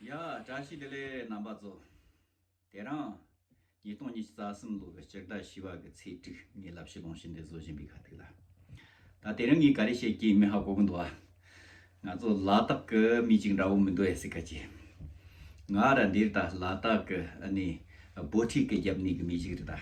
ཡ། བཀྲ་ཤིས་བདེ་ལེགས་རྣམ་པ་གཙོ། དེ་རིང། ཉིས་སྟོང་ཉི་ཤུ་རྩ་གསུམ་ལོ་བའི་སྤྱིར་ཟླ་བཞི་བར་གྱི་ཚེས་དྲུག་ཉིན་བསླབ་གཞི་ལོངས་ཤིན་ཏེ་བཟོ་བཞིན་པའི་ཁ་ཐུག་ལ། ད་དེ་རིང་གི་ག་རེ་བཤད་ཀྱིན་མི་ཧ་གོ་གི་འདུག་ཨ། ང་ཚོ་ལ་དྭགས་ཀྱི་མི་ཅིག་འདྲ་བོ་མི་འདུག་ཨེ་སི་ཁ་ཅི། ང་ར་འདིར་ད་ལ་དྭགས་ཀྱི་ཨ་ནི་བོད་ཁྲིད་ཀྱི་རྒྱབ་གནས་ཀྱི་མི་ཞིག་རེད་ད།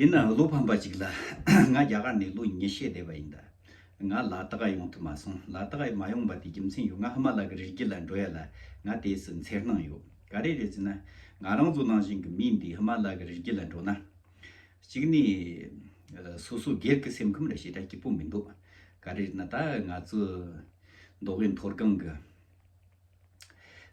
ཡིན་ནའང་བློ་ཕམ་པ་ཞིག་ལ། ང་རྒྱ་གར་ནས་ལོ་ཉི་ཤས་བསྡད་པ་ཡིན་ད། ང་ལ་དྭགས་ཡོང་ཐུབ་མ་སོང། ལ་དྭགས་མ་ཡོང་པ་དེའི་རྒྱུ་མཚན་ཡོད་ང་ཧི་མ་ལ་གི་རི་རྒྱུད་ལ་འགྲོ་ཡ་ལ་ང་དེས་སུ་འཚེར་སྣང་ཡོད། ག་རེ་རེད་ཟེར་ན། ང་རང་ཚོ་ནང་བཞིན་གྱི་མི་འདིས་ཧི་མ་ལ་གི་རི་རྒྱུད་ལ་འགྲོ་ན། གཅིག་ནས། སོ་སོ་སྒེར་གྱི་སེམས་ཁམས་ལ་ཞེ་དྲག་སྐྱིད་པོ་མི་འདུག་ག་རེ་རེད་ན་ད་ང་ཚོ། མདོ་དབུས་མཐོ་སྒང་གི།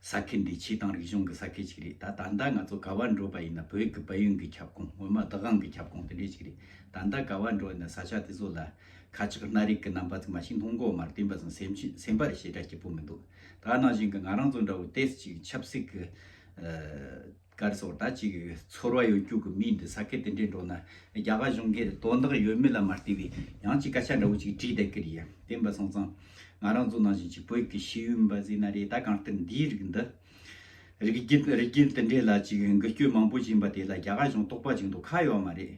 ས་ཁུལ་འདི་ཆུའི་དང་རིག་གཞུང་གི་ས་ཁུལ་ཅིག་རེད་ད། ད་ལྟ་ང་ཚོ་ག་བར་འགྲོ་བ་ཡིན་ན་བོད་ཀྱི་དཔལ་ཡོན་གྱི་ཁྱབ་ཁོངས་སྔོན་མ་བདག་དབང་གི་ཁྱབ་ཁོངས་དེ་འདྲས་ཅིག་རེད་ད། ད་ག་བར་འགྲོ་ཡིན་ན་ས་ཆ་དེ་ཚོ་ལ། ཁ་ཆག་སྣ་རིགས་ཀྱི་རྣམ་པ་དུ་མ་ཞིག་སྣུམ་འགོག་མར་བསྟན་པ་བཟང་སེམས་ཅན་སེམས་པར་ཞེ་དྲག་སྐྱིད་པོ་མི་འདུག་ད། ནང་བཞིན་གྱི་ང་རང་ཚོ་འདྲ་བོ་ཏེས་ཅིག་ཆབ་སྲིད་ཀྱི། སྐར་སོགས་དྲ་གཅིག་ཡོད་ཚོར་བ་ཡོད་རྒྱུགས་ཀྱི་མི་འདི་ས་ཁད་དེ་འདྲའི་འགྲོ་ན་རྒྱ་གར་གཞུང་སྒེར་དོན་དག་ཡོད་མེད་ལ་མ་ལྟོས་པའི་ཡང་ཅིག་སྐད་ཆ་འདྲ་བོ་ཅིག་དྲིས་བསྡད་ཀི་རེད་ཡ་བདེན་པ་སོང་ཙང་ང་རང་ཚོ་ནང་བཞིན་གཅིག་བོད་ཀྱི་ཤེས་ཡོན་པ་ཟེར་ན་རེད་ད་གང་ལྟར་འདིའི་རིགས་འདི་རིགས་རྒྱུན་དེ་འདྲའི་ལ་ཅིག་འགུལ་སྐྱོད་མང་པོ་བྱིན་པ་དེ་ལ་རྒྱ་གར་གཞུང་རྟོག་པ་ཅིག་འདུག་ཁ་ཡོད་མ་རེད་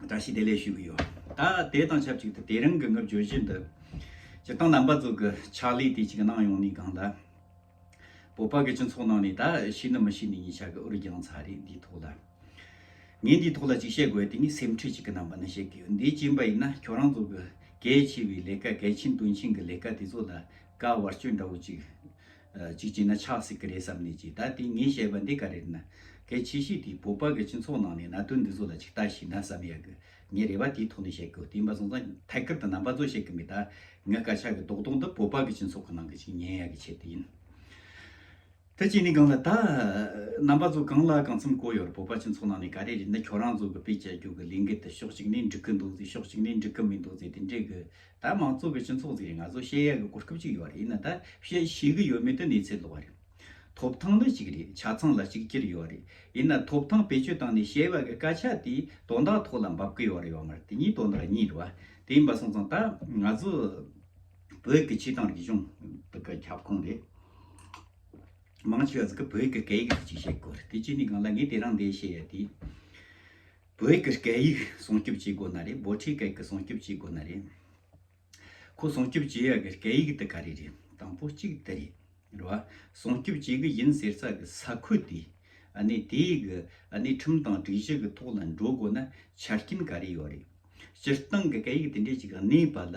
བཀྲ་ཤིས་བདེ་ལེགས་ཞུ་གི་ཡོད། ད་དེ་དང་ཆབས་ཅིག་ཏུ་དེ་རིང་གི་ངུ་བརྗོད་བཞི་འདི། སྤྱིར་བཏང་རྣམ་པ་གཙོས་ཀྱི་ཕྱག་ལས་དེ་གཅིག་གནང་ཡོང་ནི་གང་ལ། བོད་པ་གི་སྤྱི་ཚོགས་ནང་ནས་ད་ཤི་ནི་མི་ཤི་ནི་གཉིས་ཆ་གི་འུར་རྒྱང་ཚ་རེད་འདིའི་ཐོག་ལ། ངས་འདིའི་ཐོག་ལ་གཅིག་བཤད་དགོས་དེ་ནི་སེམས་ཁྲལ་གཅིག་གི་རྣམ་པ་ནི་བཤད་ཀྱི་ཡོད་འདི་ཅིན་པ་ཡིན་ན་ཁྱོད་རང་ཚོ་གི་གལ་ཆེ་བའི་ལས་ཀ་གལ་ཆེན་དོན་ཆེན་གི་ལས་ཀ་དེ་ཚོ་ལ་དཀའ་བར་སྐྱོན་འདྲ་བོ་གཅིག་ཅིག་བྱས་ན་ཆགས་སྲིད་ཀྱི་རེད་བསམ་ནས་ཀྱིས་ད་དེ་ངས་བཤད་པ་འདི་ག་རེ་རེད་ན། གལ་ཆེ་ཤོས་དེ་བོད་པ་གི་སྤྱི་ཚོགས་ནང་ནས་གནད་དོན་འདི་ཚོ་ལ་ཅིག་ལྟ་ཞིག་ན་བསམ་ཡག་གི། ངས་རེ་བ་དེའི་ཐོག་ནས་བཤད་གི་བསྟན་པ་སོང་ཙང་ཐད་ཀར་དུ་རྣམ་པ་ཚོ་བཤད་གི་མེད་ད། ངས་སྐད་ཆ་གི་ལྡོག་ལྡོག་འདི་བོད་པ་གི་སྤྱི་ཚོགས་ཀྱི་ནང་གི་ཅིག་ཉན་ཡག་གི་ཆེད་དུ་ཡིན། དེ་གཅིག་ནས་གང་ལ་ད། རྣམ་པ་ཚོ་གང་ལ་གང་འཚམ་གོ་ཡོད་རེད་བོད་པ་སྤྱི་ཚོགས་ནང་ནས་ག་རེ་རེད་ན་ཁྱོད་རང་ཚོ་གི་དཔེ་ཆ་རྒྱུག་གི་ལས་འགུལ་དེ་ཕྱོགས་གཅིག་ནས་འགྲིག་གི་འདུག་ཟེར་ཕྱོགས་གཅིག་ནས་འགྲིག་གི་མི་འདུག་ཟེར་དེ་འདྲའི་གི་ད་མང་གཙོ་གི་སྤྱི་ཚོགས་ཟེར་ནས་ང་ཚོ་བཤད་ཡག་གི་གོ་སྐབས་ཅིག་ཡོད་རེད་ན་ད་བཤད་ཤེས་གི་ཡོད་མེད་དེ་གནས་ཚད་ལོག་རེད། ཐོབ་ཐང་ནི་གཅིག་རེད་ཆ་ཚང་ལ་གཅིག་གྱུར་ཡོད་རེད་ཡིན་ན་ཐོབ་ཐང་བེད་སྤྱོད་བཏང་ནས་བཤད་ཡག་གི་སྐད་ཆ་དེ་དོན་དག་ཐོག་ལ་འབབ་གི་ཡོད་རེད་ཡོད་མ་རེད་དེ་གཉིས་དོན་དག་གཉིས་རེད་བ་དེ་ཡིན་པ་སོང་ཙང་ད་ང་ཚོ་བོད་ཀྱི་ཕྱི་དང་རིག་གཞུང་དག་གི་ཁྱབ་ཁོངས་རེད། མང་ཆེ་བ་ཟིག་གི་བོད་ཀྱི་སྐད་ཡིག་ཅིག་བཤད་དགོས་རེད་དེ་གཅིག་ནས་གང་ལ་ངས་དེ་རང་འདས་བཤད་ཡག་དེ། བོད་ཀྱི་སྐད་ཡིག་སྲུང་སྐྱོབ་བྱེད་དགོས་ན་རེད་འབོ་ཁྲིའི་སྐད་ཀྱི་སྲུང་སྐྱོབ་བྱེད་དགོས་ན་རེད། ཁོ་སྲུང་སྐྱོབ་བྱེད་ཡག་གི་སྐད་ཡིག་དེ་ག་རེ་རེད་དང་པོ་གཅིག་དེ་རེད་རེད་བ། སྲུང་སྐྱོབ་བྱེད་གི་ཡིན་ཟེར་ས་གི་ས་ཁུལ་དེ་ནི་དེའི་གི་ནི་ཁྲིམས་དང་སྒྲིག་གཞི་གི་ཐོག་ལ་འགྲོ་དགོས་ན་ཆ་རྐྱེན་ག་རེ་ཡོད་རེད། སྤྱིར་བཏང་གི་སྐད་ཡིག་དེ་འདྲས་ཅིག་གནས་པ་ལ་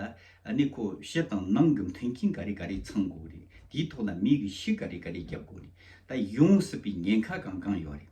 ནི་ཁོ་ཕྱི་དང་ནང་གི་མཐུན་རྐྱེན་ག་རེ་ག་རེ་ཚང་དགོས་རེད་དེའི་ཐོག་ལ་མིའི་གི་ཤུགས་ག་རེ་ག་རེ་རྒྱབ་དགོས་རེད་ད་ཡོང་སྲིད་པའི་ཉེན་ཁ་གང་གང་ཡོད་རེད།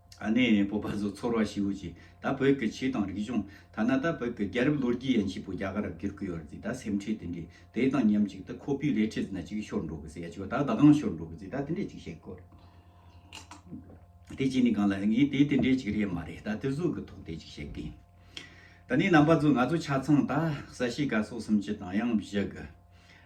ཨ་ནེ་ཡའི་བོད་པ་ཚོ་ཚོར་བ་ཞིག་ཡོད་ཀྱི་ད་བོད་ཀྱི་ཆོས་དང་རིག་གཞུང་ཐ་ན་ད་བོད་ཀྱི་རྒྱལ་རབས་ལོ་རྒྱུས་ཡན་ཆེས་པོ་རྒྱ་གར་རུ་བསྒྱུར་གི་ཡོད་རེད་ད་སེམས་ཁྲལ་དེ་འདྲས་དེ་དང་མཉམ་གཅིག་ཏུ་ཁོ་བོའི་རས་ཁྲའི་ཟིན་ན་ཅིག་ཤོར་འགྲོ་གི་ཟེར་ཡ་ཅིག་ད་བདག་གང་ཤོར་འགྲོ་གི་ཟེར་ད་དེ་འདྲས་ཅིག་བཤད་དགོས་རེད་དེ་གཅིག་ནས་གང་ལ་ངས་དེ་དེ་འདྲས་ཅིག་རེད་མ་རེད་ད་དེ་གཟུགས་ཀྱི་ཐོག་དེ་ཅིག་བཤད་གི་ད་ནི་རྣམ་པ་ཚོ་ང་ཚོ་ཆ་ཚང་ད་ས་གཤིས་ཀ་སོགས་སུམ་ཅུ་དང་ཡང་བཞི་གི།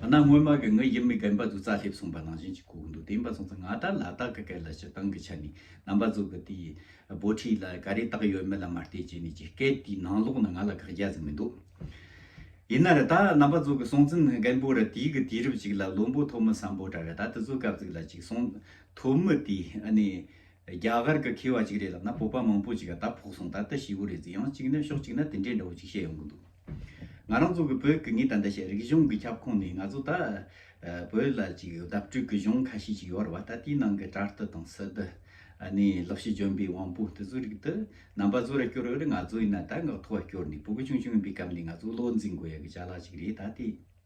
ང་ནག་སྔོན་མ་གི་ངའི་ཡུལ་མི་རྒན་པ་ཚོ་རྩ་སླེབས་སོང་པ་ནང་བཞིན་གྱི་གོ་གི་འདུག་དེ་ཡིན་པ་སོང་ཙང་ང་ད་ལ་དྭགས་ཀི་སྐད་ལ་སྤྱི་བཏང་གི་ཆ་ནས་རྣམ་པ་ཚོ་གི་དེའི་འབོ་ཁྲིད་ལ་ག་རེ་བཏགས་ཡོད་མེད་ལ་མ་བལྟས་ཀྱི་ནས་ཀྱི་སྐད་དེའི་ནང་ལོག་ན་ང་ལ་དགག་རྒྱ་ཟིག་མི་འདུག། ཡིན་ན་ར་ད་རྣམ་པ་ཚོ་གི་སོང་ཙིན་རྒན་པོ་ར་དེའི་གི་དུས་རབས་ཅིག་ལ་བློན་པོ་ཐོ་མི་བསམ་པོ་འདྲ་ར་ད་དེ་ཚོ་སྐབས་ཚིག་ལ་ཅིག་སོང་ཐོ་མི་དེ་ཨ་ནི་རྒྱ་གར་གི་མཁས་བ་ཅིག་རེད་ལབ་ན་བོད་པ་མང་པོ་ཅིག་ག་ད་ཕོག་སོང་ད་ད་ཞི་བོ་རེད་ཟིག་ཡང་ཅིག་ན་ཕྱོགས་ཅིག་ན་དེ་འདྲའི་འདྲ་བོ་ཅིག་བཤད་ཡོང་གི་འདུག། ང་རང་ཚོ་གི་བོད་གི་ངའི་ད་ལྟ་ཞིག་རིག་གཞུང་གི་ཁྱབ་ཁོངས་ནས་ང་ཚོ་ད་བོད་ལ་ཅིག་བརྡབ་སྤྲོད་གི་གཞུང་ཁ་ཤས་ཅིག་ཡོད་རེད་བ་ད་དེའི་ནང་གི་དྲར་རྟི་དང་སི་ཏི་ནས་ལོག་ཤི་འཇོན་པའི་དབང་པོ་དེ་ཚོའི་རིགས་དེ་རྣམ་པ་བཟོ་ར་སྐྱོར་འོས་རེད་ང་ཚོ་ཡིན་ན་ད་འགག་ཐོ་བ་སྐྱོར་ནས་བུ་གུ་ཆུང་ཆུང་ཡིན་པའི་སྐབས་ནས་ང་ཚོ་བློ་འཛིན་དགོས་ཡག་གི་བྱ་གླག་ཅིག་རེད་ད་དེ།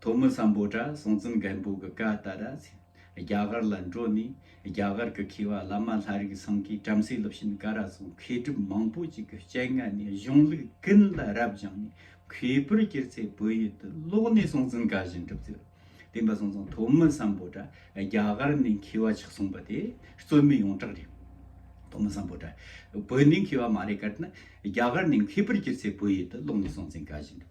ཐོག་མི་བསམ་པོ་དྲ་སྲོང་བཙུན་རྒན་པོ་གི་བཀའ་ལྟར་རྒྱ་གར་ལ་འགྲོ་ནས་རྒྱ་གར་གི་མཁས་བ་བླ་མ་ལྷ་རིགས་ཚང་གིས་བྲམ་ཟེ་སློབ་ཆེན་ཀ་ར་སོགས་མཁས་གྲུབ་མང་པོ་ཅིག་གི་སྤྱན་སྔ་ནས་གཞུང་ལུགས་ཀུན་ལ་རབ་སྦྱངས་ནས་གུས་པར་བསྐྱེད་ཚེ་བོད་ཡུལ་དུ་ལོག་ནས་སྲོང་བཙུན་བཀའ་བཞིན་སྒྲུབ་མཛད། བསྟན་པ་སྲོང་བཙུན་ཐོག་མི་བསམ་པོ་དྲ་རྒྱ་གར་ནས་མཁས་བ་ཆགས་སོང་བ་དེ་རྩོད་མེད་ཡོངས་གྲགས་རེད། ཐོག་མི་བསམ་པོ་དྲ་བོད་ནས་མཁས་བ་མ་རེད་ཀར་ནི་རྒྱ་གར་ནས་མཁས་པར་བསྐྱེད་ཚེ་བོད་ཡུལ་དུ་ལོག་ནས་སྲོང་བཙུན་བཀའ་བཞིན་སྒྲུབ།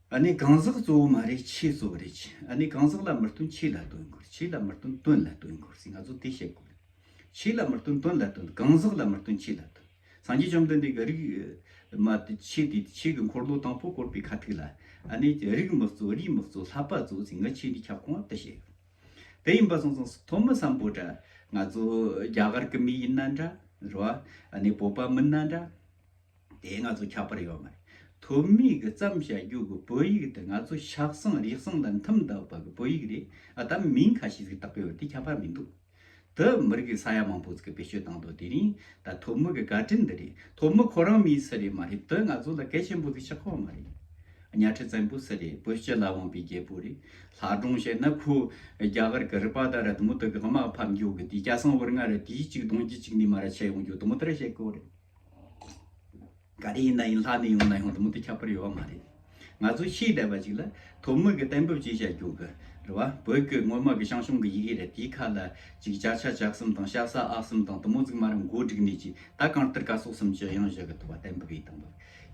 ཨ་ནི་གང་ཟག་གཙོ་བོ་མ་རེད་ཕྱི་གཙོ་བོ་རེད་ཨ་ནི་གང་ཟག་ལ་མི་བསྟུན་ཕྱི་ལ་བསྟུན་དགོས་ཕྱི་ལ་མི་བསྟུན་དོན་ལ་བསྟུན་དགོས་ང་ཚོ་དེ་བཤད་དགོས་རེད། ཕྱི་ལ་མི་བསྟུན་དོན་ལ་བསྟུན་གང་ཟག་ལ་མི་བསྟུན་ཕྱི་ལ་བསྟུན་སངས་རྒྱས་བཅོམ་ལྡན་འདས་ཀྱི་རིགས་མ་དེ་ཕྱི་དེ་ཕྱི་གི་འཁོར་ལོ་དང་པོ་བསྐོར་པའི་ཁ་ཐུག་ལ་ཨ་ནི་རིགས་མི་གཙོ་རིས་མི་གཙོ་ལྷག་པ་གཙོ་ཟིན་ང་ཕྱི་འདི་ཁྱབ་ཁོངས་དེ་བཤད་ཡོད་དེ་ཡིན་པ་སོང་སོང་ཐོག་མི་བསམ་པོ་འདྲ་ང་ཚོ་རྒྱ་གར་གི་མི་ཡིན་ན་འདྲ་རོ་ཨ་ནི་བོད་པ་མིན་ན་འདྲ། དེ་ང་ཚོ་ཁྱབ་པར་ཡོད་མ་རེད། དུ་མི་གི་བརྩམས་བྱ་རྒྱུག་གི་བོད་ཡིག་དེ་ང་ཚོ་ཤག་སང་རིག་སང་དང་འཐུམ་འདག་པ་གི་བོད་ཡིག་རེད་ཨ་དམ་མིང་ཁ་ཤིས་གི་བཏགས་པའི་བར་དེ་ཁྱབ་པར་མི་འདུག། དུ་མི་རིག་གི་ས་ཡ་མང་པོས་གི་བེད་སྤྱོད་བཏང་འདུག་དེ་རིང་ད་དུ་མི་གི་དགའ་དྲིན་འདི་རེད་དུ་མི་ཁོ་རང་མིའི་སི་རེད་མ་རེད་དུ་ང་ཚོ་ལ་གལ་ཆེན་པོ་གི་ཆག་ཁོ་མ་རེད། གཉའ་ཁྲི་བཙན་པོ་སི་རེད་བོད་སྤྱི་ལ་དབང་པའི་རྒྱལ་པོ་རེད་ལྷ་སྒྲུང་བཤད་ན་ཁོ་རྒྱ་གར་གི་རི་པ་དང་རི་དུ་མོ་དུ་གི་དམག་ཕམ་རྒྱུག་གི་དེ་སྐྱ་སང་བོར་ང་ར་དེའི་གཅིག་དུང་གི་གཅིག་ནི་མ་ར་ཆད་ཡོང་རྒྱུག་དུ་མོ་དེ་ར་བཤད་ཁོ་རེད། ག་རེ་ཡིན་ན་ཡིན་ལྷ་ནས་ཡོང་ན་ཡོང་དེ་མུ་མཐུད་ཁྱབ་པར་ཡོད་པ་མ་རེད། ང་ཚོ་ཤེས་བསྡད་པ་ཞིག་ལ་དོ་མི་གི་གཏན་འབེབས་ཅིག་བྱ་རྒྱུ་གི་རེད་བ། བོད་སྐད་ངོ་མ་གི་ཤང་ཤོང་གི་ཡི་གེ་རེད་དེའི་ཁ་ལ་ཅིག་བྱ་ཆ་བྱག་གསུམ་དང་བཤགས་ས་ཨག་གསུམ་དང་དུ་མོ་རྫིག་མ་རུ་མགོ་བསྒྲིགས་ནས་ཅིག་ད་གང་ལྟར་ཀ་སོགས་གསུམ་ཅི་ཡང་བཞག་གི་འདུག་བ་གཏན་འབེབས་ཡི་དམ་པ་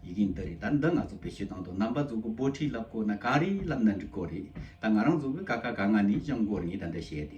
ཡི་གེ་འདི་རེད་ད་འདི་ང་ཚོ་བེད་སྤྱོད་གཏང་དུ་རྣམ་པ་ཚོ་གི་པོ་ཁྲིད་ལབ་དགོ་ན་ག་རེ་ལབ་ན་འགྲིག་གོ་རེད་ད་ང་རང་ཚོ་གི་ཀ་ཀ་ག་ང་ནས་ཅང་གོ་རེ་ངས་ད་འདི་བཤད་དེ།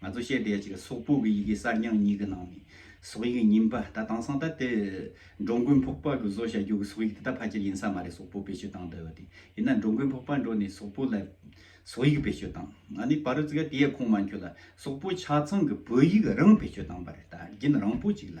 ང་ཚོ་བཤད་བསྡད་ཅིག་སོག་པོ་གི་ཡི་གེ་གསར་རྙིང་གཉིས་ཀྱི་ནང་ནས་སོག་ཡིག་རྙིང་པ་ད་དྭངས་སང་ད་དེ་འགྲོ་མགོན་ཕོག་པ་གི་བཟོ་བྱ་རྒྱུ་གི་སོག་ཡིག་དེ་ད་ཕ་ཁྱེར་ཡིན་ས་མ་རེད་སོག་པོ་བེད་སྤྱོད་བཏང་འདོད་དེ་ཡིན་ན་འགྲོ་མགོན་ཕོག་པ་འགྲོ་ནས་སོག་པོ་ལ་སོག་ཡིག་བེད་སྤྱོད་བཏང་ང་ནི་བ་རུ་ཙི་ག་དེ་ཡས་ཁུངས་མ་འཁྱོལ་ལ་སོག་པོ་ཆ་ཚང་གི་བོད་ཡིག་རང་བེད་སྤྱོད་བཏང་པ་རེད་ད་རྒྱུན་རང་པོ་ཅིག་ལ་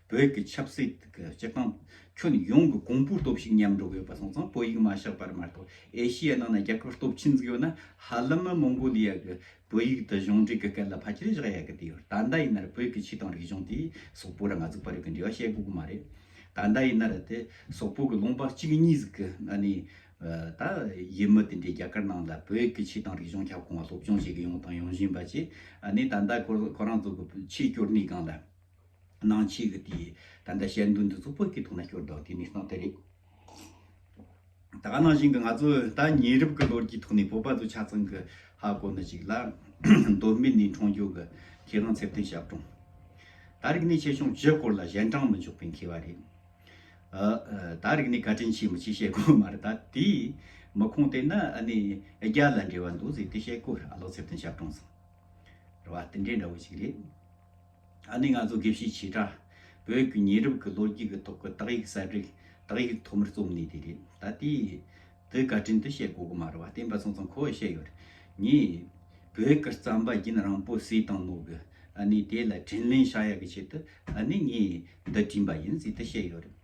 བོད་ཀྱི་ཆབ་སྲིད་ཀྱི་སྤྱི་སྟངས་ཁྱོན་ཡོངས་ཀྱི་གོང་བུར་སྟོབས་ཤུགས་མཉམ་འགྲོ་དགོས་པ་སོང་ཙང་བོད་ཡིག་མ་བཤགས་པར་མ་གཏོགས་ཨེ་ཤི་ཡའི་ནང་ན་རྒྱལ་ཁབ་སྟོབས་ཆེན་འཛུགས་ཡོད་ན་ཧ་ལམ་མི་མོང་གོ་ལི་ཡ་གི་བོད་ཡིག་དེ་གཞུང་འབྲེལ་གྱི་སྐད་ལ་ཕལ་ཆེར་བཞག་ཡག་གི་དེ་ཡོད་ད་ལྟ་ཡིན་ནར་བོད་ཀྱི་ཆོས་དང་རིག་གཞུང་དེ་སོག་པོ་ར་ང་གཟུགས་པ་རིགས་ཀྱི་འབྲེལ་བ་བཤད་དགོས་གི་མ་རེད་ད་ལྟ་ཡིན་ནར་དེ་སོག་པོ་གི་ལུང་པ་གཅིག་གཉིས་གཟུགས་གི་ཨ་ནི་ད་ཡིན་མི་དེ་འདྲའི་རྒྱ་གར་ནང་ལ་བོད་ཀྱི་ཆོས་དང་རིག་གཞུང་ཁྱབ་ཁོང་བ་སློབ་སྦྱོང་བྱེད་གི་ཡོང་དང་ཡོང་བཞིན་པ་བཅས་ཨ་ནི་ད་ལྟ་ཁོ་རང་ཚོ་གི་ཆོས་སྐྱོར་གནས་སྒང་ལ། སྣང་བྱེད་ཀྱི་དེ། ད་ལྟ་ཞལ་འདོན་འདི་གཙུག་ཕུད་ཀྱི་ཐུགས་ན་སྐྱོར་བདག་དེ་ནི་སྣང་སྟེ་རེག། ད་ག་ནང་བཞིན་གྱི་ང་ཚོ་ད་ཉེ་རབས་ཀྱི་ལོར་གྱི་ཐོག་ནས་བོད་པ་ཚོ་ཆ་ཚང་གི་ཧ་གོ་ནི་ཞིག་ལ། མདོ་སྨད་ནི་འཕྲང་སྐྱོག་གི་ཁྱེད་རང་ཚེ་བརྟན་ཞབས་དྲུང། ད་རིག་ནས་ཆེ་ཆུང་བཞི་སྐོར་ལ་གཞན་དྲང་མི་འཇོག་པའི་མཁས་བ་རེད། ད་རིག་ནས་བཀའ་དྲིན་ཆེ་མི་ཆེ་བཤད་དགོས་མ་རེད་ད་དེ། མི་ཁུངས་བལྟས་ན་ཨ་ནི་རྒྱ་ལ་འབྲེལ་བ་འདུག་ཟེར་དེ་བཤད་དགོས་ར་ལོ་ཚེ་བརྟན་ཞབས་དྲུང་ཟེར་བ་དེ་འདྲའི་འདྲ་བོ་ཞིག་རེད། ད་ནི་ང་ཚོ་དགེ་བཤེས་བྱེ་བྲག་བོད་ཀྱི་ཉེ་རབས་ཀྱི་ལོ་རྒྱུས་ཀྱི་ཐོག་གི་དག་ཡིག་གསལ་བསྒྲིགས་དག་ཡིག་ཐོག་མར་རྩོམ་ནི་དེ་རེད། ད་ལྟའི་དུས་བཀའ་དྲིན་དུ་བཤད་དགོས་ཀྱི་མ་རེད་བ་བསྟན་པ་ཚང་ཚང་ཁོ་བོས་བཤད་ཡོད་རེད། ངས་བོད་ཀྱི་རྩམ་པ་རྒྱུན་རང་པོ་བསུས་དང་མོ་གི་ཨ་ནི་དེ་ལ་དྲིན་ལན་བྱ་ཡག་གི་ཆེད་དུ་ཨ་ནི་ངས་འདི་བྲིས་པ་ཡིན་ཟེར་དུ་བཤད་ཡོད་རེད།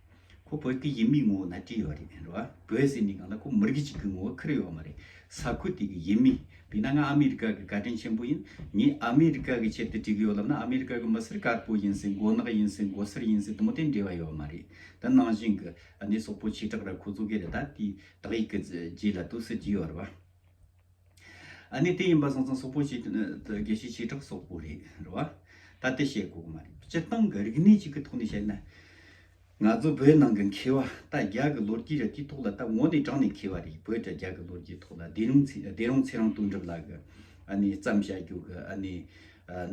ཁོ་བོད་སྐད་ཡིག་མི་ངོ་བོ་ན་བྲིས་ཡོད་རེད་རེད་བ། བོད་ཟེར་ནི་གང་ལ་ཁོ་མི་རིགས་གཅིག་གི་ངོ་བོ་ཁུར་ཡོད་མ་རེད། ས་ཁུལ་དེ་གི་ཡིན་མིན། དེས་ན་ང་ཨ་མི་རི་ཀ་གི་བཀའ་དྲིན་ཆེན་པོ་ཡིན། ངས་ཨ་མི་རི་ཀ་གི་ཆེད་དུ་བྲིས་གི་ཡོད་ལབ་ན་ཨ་མི་རི་ཀ་གི་མི་སེར་དཀར་པོ་ཡིན་སྲིད་མགོ་ནག་ཡིན་སྲིད་མགོ་སེར་ཡིན་སྲིད་དུ་མོ་དེ་འབྲེལ་བ་ཡོད་མ་རེད། དེ་ནང་བཞིན་གི་ནས་སོག་པོ་བྱེ་བྲག་ར་ཁོ་བཙུགས་གི་རེད་ད་དེའི་དག་ཡིག་གི་རྗེས་ལ་དུ་སེ་ཇི་ཡོད་རེད་བ། ནི་དེ་ཡིན་པ་སང་ཙང་སོག་པོ་ཞིག་དགེ་བཤེས་ཆིག་གྲགས་སོག་པོ་རེད་རེད་བ། ད་དེ་བཤད་དགོས་གི་མ་རེད། སྤྱིར་བཏང་གི་རིག་གནས་ཅིག་གི་ཐོག་ནས་བཤད་ན། ང་ཚོ་བོད་ནང་གི་མཁས་བ་ད་རྒྱ་གི་ལོ་རྒྱུས་ར་དེའི་ཐོག་ལ་ད་ངོ་ནས་དྲངས་ནས་མཁས་བ་རེད་བོད་དྲ་རྒྱ་གི་ལོ་རྒྱུས་ཐོག་ལ་སྡེ་རུང་སྡེ་རོང་ཚེ་རང་དོན་གྲུབ་ལགས་གི་ནི་བརྩམས་བྱ་རྒྱུག་གི་ནི་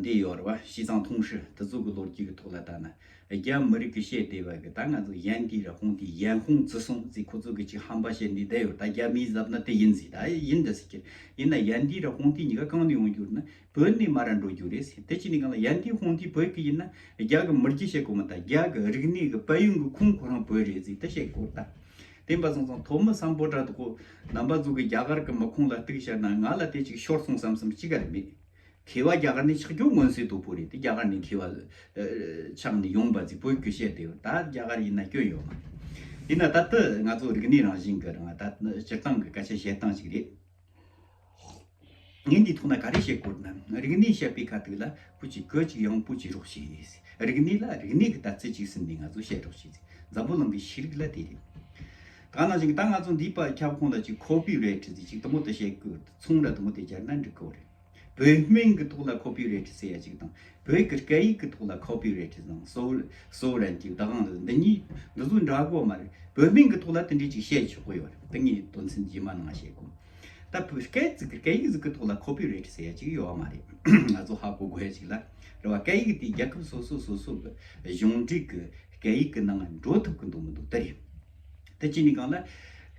འདི་ཡོད་རེད་བ་ཞི་ཙང་ཐུང་ཧྲི་དེ་ཚོ་གི་ལོ་རྒྱུས་གི་ཐོག་ལ་ད་ན། རྒྱ་མི་རིགས་ཀྱི་ཤེས་བདེ་བ་གི་ད་ང་ཚོ་ཡན་གི་ར་ཁོང་དེ་ཡན་ཧུང་ཙི་སོང་ཙི་ཁོ་ཚོ་གི་ཅིག་ཧམ་པ་ཤེས་འདི་བསྡད་ཡོད་ད་རྒྱ་མིའི་གཟབ་ན་དེ་ཡིན་ཟིག་ད་ཡིན་འདི་ཟིག་ཁྱེར་ཡིན་ན་ཡན་དེའི་ར་ཁོང་དེ་གཉིས་ཀ་གང་ནས་ཡོང་རྒྱུ་རེད་ན་བོད་ནས་མ་ར་འགྲོ་རྒྱུ་རེད་ཟིག་དེ་གཅིག་ནས་གང་ལ་ཡན་དེའི་ཧུང་དེ་བོད་ཀྱི་ཡིན་ན་རྒྱ་གི་མི་རྒྱུ་ཤེས་དགོས་མ་ད་རྒྱ་གི་རིག་གནས་གི་དཔལ་ཡོན་གི་ཁུངས་ཁོ་རང་བོད་རེད་ཟིག་དེ་ཤེས་དགོས་རེད་ད་དེ་འབའ་སོང་སོང་དོ་མི་བསམ་པོ་དྲ་ཐོག་ནམ་པ་ཚོ་གི་རྒྱ་གར་གི་མི་ཁོང་ལ་གཏུགས་བཤད་ན་ང་ལ་དེ་ཅིག་ཤོར་སོང་བསམ་བསམ་ཅི་ག་རེ་མེད། གིས་བ་རྒྱ་གར་ནི་ཆགས་རྒྱུ་མངོན་གསལ་དོད་པོ་རེད་དེ་རྒྱ་གར་ནི་གིས་བ། ཆགས་ནས་ཡོང་པ་རྫིག་པོའི་རྒྱུ་བཤད་དེ་ད་རྒྱ་གར་ཡིན་ན་སྐྱོན་ཡོད་མ་རེད། ཡིན་ན་ད་ལྟ་ང་ཚོ་རིག་གནས་རང་བཞིན་གྱི་རང་ད་སྤྱིར་བཏང་གི་སྐད་ཆ་བཤད་སྟངས་ཞིག་རེད། ངས་འདིའི་ཐོག་ན་ག་རེ་བཤད་དགོས་ན་རིག་གནས་བཤད་པའི་ཁ་ཐུག་ལ་པུ་ཅིག་གོ་ཅིག་ཡང་པུ་བྱེད་རོགས་བྱོས། རིག་གནས་ལ་རིག་གནས་ཀྱི་དར་ཚིགས་ཅིག་ཟིན་ནས་ང་ཚོ་བཤད་རོགས་བྱོས། འཛམ་བུ་གླིང་གི་ཤེས་རིག་ལ་དེ་རེད། གང་ན་ཅིག་ད་ང་ཚོ་འདིས་པར་ཁྱབ་ཁོང་ལ་ཅིག་ཁོ་པི་རེ་ཏྲི་ཟེར་ཅིག་དུ་མོ་དུ་ཤེས་ཀི་ཚོང་ར་དུ་མོ་དེ་སྦྱར་ན་འགྲིག་གི་འོ་རེད། བོད་སྨན་གི་ཐོག་ལ་ཁོ་པི་རེ་ཏྲི་ཟེར་ཡ་ཅིག་དང་བོད་ཀི་སྐད་ཡིག་གི་ཐོག་ལ་ཁོ་པི་རེ་ཏྲི་དང་སོའུ་རན་ཅིག་ད་གང་འདི་གཉིས་འདི་ཚོ་འདྲ་གོ་མ་རེད་བོད་སྨན་གི་ཐོག་ལ་དེ་འདྲས་ཅིག་བཤད་ཆོག་གི་ཡོ་རེད་དེ་ངས་དོན་ཚན་རྗེས་མ་ནང་བཤད་གོ། ད་བོད་སྐད་ཟིག་གི་སྐད་ཡིག་ཟིག་གི་ཐོག་ལ་ཁོ་པི་རེ་ཏྲི་ཟེར་ཡ་ཅིག་ཡོ་བ་མ་རེད་ང་ཚོ་ཧ་གོ་དགོས་ཡ་ཅིག་ལ་རེད་བ་སྐད་ཡིག་དེ་རྒྱལ་ཁབ་སོ་སོ་སོ་སོ་གི་གཞུང་འབྲེལ་གི་སྐད་ཡིག་གི་ནང་འགྲོ་ཐུབ་གི་འདུག་མི་འདུག་དེ་རེད། ད་གཅིག་ནི་གང་ལ།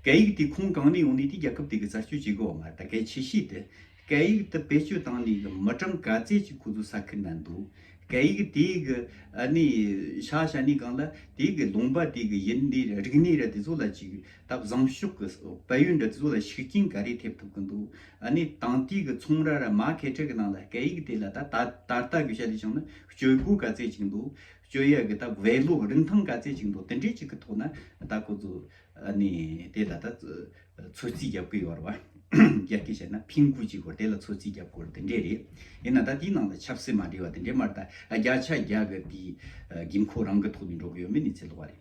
སྐད་ཡིག་དེ་ཁུངས་གང་ནས་ཡོང་ནས་དེ་རྒྱལ་ཁབ་དེ་གི་གསར་སྤྱོད་བྱེད་དགོས་པ་མ་རེད་ད་གལ་ཆེ་ཤོས་དེ། སྐད་ཡིག་དེ་བེད་སྤྱོད་བཏང་ནས་གི་མི་གྲངས་ག་ཚད་ཅིག་ཁོ་ཚོ་ས་ཁུལ་ན་འདུག་སྐད་ཡིག་དེ་གི་ནི་ཤ་ཤ་ནི་གང་ལ། དེ་གི་ལུང་པ་དེ་གི་ཡིན་ནི་ར་རིག་གནས་ར་དེ་ཚོ་ལ་ཅིག་ད་བཟང་ཤོས་གི་དཔལ་ཡོན་ར་དེ་ཚོ་ལ་ཤུགས་རྐྱེན་ག་རེ་ཐེབས་ཐུབ་གི་འདུག་ནི་དང་དེ་གི་ཚོང་ར་ར་མ་ཁེ་ཁྲེ་གི་ནང་ལ་སྐད་ཡིག་དེ་ལ་ད་ད་ལྟ་གི་བྱ་དེ་བྱུང་ན་སྤྱོད་སྒོ་ག་ཚད་ཅིག་འདུག་སྤྱོད་ཡག་གི་ད་བའི་ལོ་རིན་ཐང་ག་ཚད་ཅིག་འདུག་དེ་འདྲའི་ཅིག་གི་ཐོག་ན་ད་ཁོ་ཚོ་ནི་དེ་ད་ལྟ་ཚོད་རྩིས་རྒྱབ་ཀི་ཡོད་རེད་བ། རྒྱ་སྐད་བྱས་ན་ཕིང་གུ་ཅིག་གོ་དེ་ལ་ཚོད་རྩིས་རྒྱབ་དགོས་རེད་དེ་འདྲས་རེད། ཡིན་ན་ད་དེའི་ནང་ལ་ཆབ་སྲིད་མ་འདྲེས་བ་དེ་འདྲས་མ་རེད་ད་བརྒྱ་ཆ་བརྒྱ་གི་དེའི་དགོས་མཁོ་རང་གི་ཐོག་ནས་འགྲོ་གི་ཡོད་མེད་ནི་ཚད་ལོག་བ་རེད།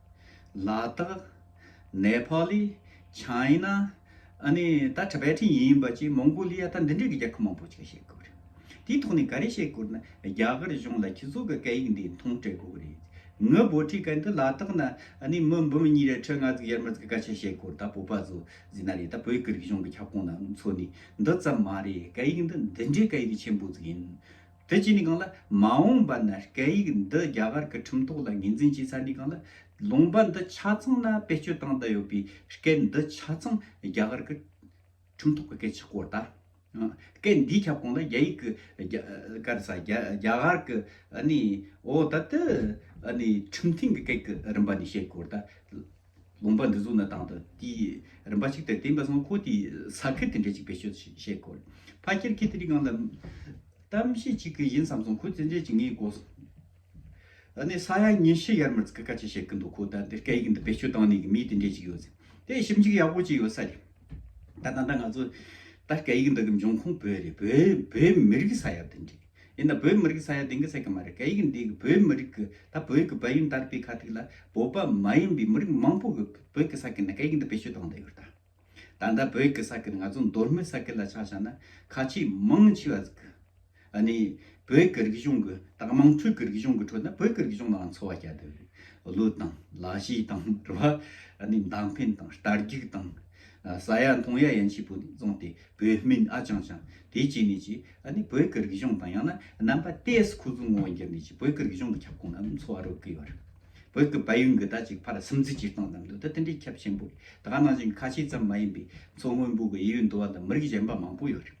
ལ་དྭགས། ནེ་ཕཱ་ལི། ཆཱི་ན། ཨ་ནི་ད་ཁྲ་བལ་ཁྲིན་ཡིན་པ་ཅིག་མོང་གོ་ལི་ཡ་ད་འདི་འདྲའི་གི་རྒྱལ་ཁབ་མང་པོ་ཅིག་ལ་བཤད་དགོས་རེད། དེའི་ཐོག་ནས་ག་རེ་བཤད་དགོས་ན་རྒྱ་གར་གཞུང་ལ་ཁྱི་ཚོགས་གི་སྐད་ཡིག་འདི་མཐོང་སྤྲད་དགོས་གི་རེད། ངའི་བོད་ཁྲིད་སྐད་འདི་ལ་དྭགས་ན་ཨ་ནི་མི་འབུམ་གཉིས་རེ་ཁྲི་ལྔ་བརྩེགས་ཡར་མར་བརྩེགས་སྐད་ཆ་བཤད་དགོས་རེད་ད་བོད་པ་ཚོ་ཟིན་ན་རེད་ད་བོད་ཀྱི་རིག་གཞུང་གི་ཁྱབ་ཁོངས་ནང་ཚུད་ནས་འདི་ཙམ་མ་རེད་སྐད་ཡིག་འདི་འདི་འདྲའི་སྐད་ཡིག་ཆེན་པོ་ཅིག་ཡིན། དེ་བྱས་ནས་གང་ལ། མ་འོངས་པ་ན་སྐད་ཡིག་འདི་རྒྱ་གར་གྱི་ཁྲིམས་ཐོག་ལ་ངེས་འཛིན་བྱས་ཚར་ནས་གང་ལ། ལུང་པ་འདི་ཆ་ཚང་ལ་བེད་སྤྱོད་བཏང་དང་ཡོད་པའི་སྐད་འདི་ཆ་ཚང་རྒྱ་གར་གྱི་ཁྲིམས་ཐོག་གི་སྐད་ཆགས་སྐོར་དང། སྐད་འདིའི་ཁྱབ་ཁོངས་ལ་རྒྱ་ཡིག་གི་སྐད་ས་རྒྱ་གར་གྱི་འོ་ད་དུ་ཁྲིམས་ཐིང་གི་སྐད་ཀྱི་རིམ་པ་ནས་བཤད་སྐོར་དང། དགོངས་པ་འདི་གཟུགས་ན་དང་དུ་དེ་རིམ་པ་གཅིག་ལྟར་བསྟན་པ་སོགས་འཁོར་དེའི་ས་ཁུལ་དེ་འདྲའི་གཅིག་པའི་ཆོས་བཤད་དགོས། ཕ་ཁྱེར་ཁྱེད་དེ་རིགས་གང་ལ། གཏམ་བཤད་གཅིག་གི་ཡིན་བསམ་སོང་ཁོ་ཚེ་འཇལ་གྱི་ངའི་སྒོ། ཨ་ནི་ས་ཡ་ཉི་ཤུ་ཡར་མར་ཙི་ཀི་ཀ་ཅི་བཤད་གི་འདུག་ཁོ་ད་ལྟ་སྐད་ཡིག་འདི་བེད་སྤྱོད་བཏང་ནས་ཀྱི་མི་དེ་འདྲའི་གཅིག་ཡོད་ཟེར། དེ་ཞིབ་འཇུག་ཡག་པོ་བྱས་ཡོད་ས་རེད། ད་ད་ལྟ་ང་ཚོ། ད་སྐད་ཡིག་འདི་གི་འབྱུང་ཁུངས་བོད་རེད་བོད་མི་རིགས་ས་ཡ་དེ་འདྲའི། ཡིན་ན་བོད་མི་རིགས་ས་ཡ་དེང་གི་ཟེར་གི་མ་རེད་སྐད་ཡིག་འདི་གི་བོད་མི་རིགས་གི་ད་བོད་གི་བལ་ཡུལ་འདར་པའི་ཁ་ཐིག་ལ་བོད་པ་མ་ཡིན་པའི་མི་རིགས་མང་པོ་གི་བོད་གི་ས་ཁིལ་ནས་སྐད་ཡིག་འདི་བེད་སྤྱོད་གཏོང་བསྡད་ཡོད་ད། ད་ལྟ་བོད་གི་ས་ཁིལ་ང་ཚོ་མདོར་སྨད་ས་ཁིལ་ལ་ཆ་བཞག་ན་ཁ་ཆེ་མང་ཆེ་བ་གི་ནི་བོད་གི་རིག་གཞུང་གི་ད་དམངས་ཁྲོད་གི་རིག་གཞུང་གི་ཁྲོད་ན་བོད་གི་རིག་གཞུང་ལའང་འཚོ་བ་སྐྱལ་བསྡད་པའི་ལུས་དང་ལ་གཞས་དང་རེ་བ་ནི་མདངས་འཕེན་དང་རྟ་རྒྱུག་དང། ས་ཡ་མཐོང་ཡ་ཡན་ཆད་པོ་ནས་བཟུང་སྟེ་བོད་སྨིན་ཨ་ཅང་ཅང་དེ་བཅས་ནས་ཀྱི་ཨ་ནི་བོད་ཀྱི་རིག་གཞུང་དང་ཡང་ན་རྣམ་པ་ཏེས་ཁུ་ཙུང་ངོ་འགྱུར་ནས་ཀྱི་བོད་ཀྱི་རིག་གཞུང་གི་ཁྱབ་ཁོངས་རྣམས་འཚོ་བ་རོལ་གི་ཡོད་རེད། བོད་ཀྱི་བལ་ཡུལ་འགི་ད་ཅིག་ཕར་སིམ་འཛི་སྤྱིར་བཏང་ཙམ་དུ་ད་དེ་འདྲའི་ཁྱབ་ཆེན་པོ་རེད་དགའ་ནང་བཞིན་གི་ཁ་ཆེ་ཙམ་མ་ཡིན་པའི་མཚོ་སྔོན་པོ་གི་དབྱི་ཡུལ་འདུ་བ་ལ་མི་རིགས་གཞན་པ་མང་པོ་ཡོད་རེད།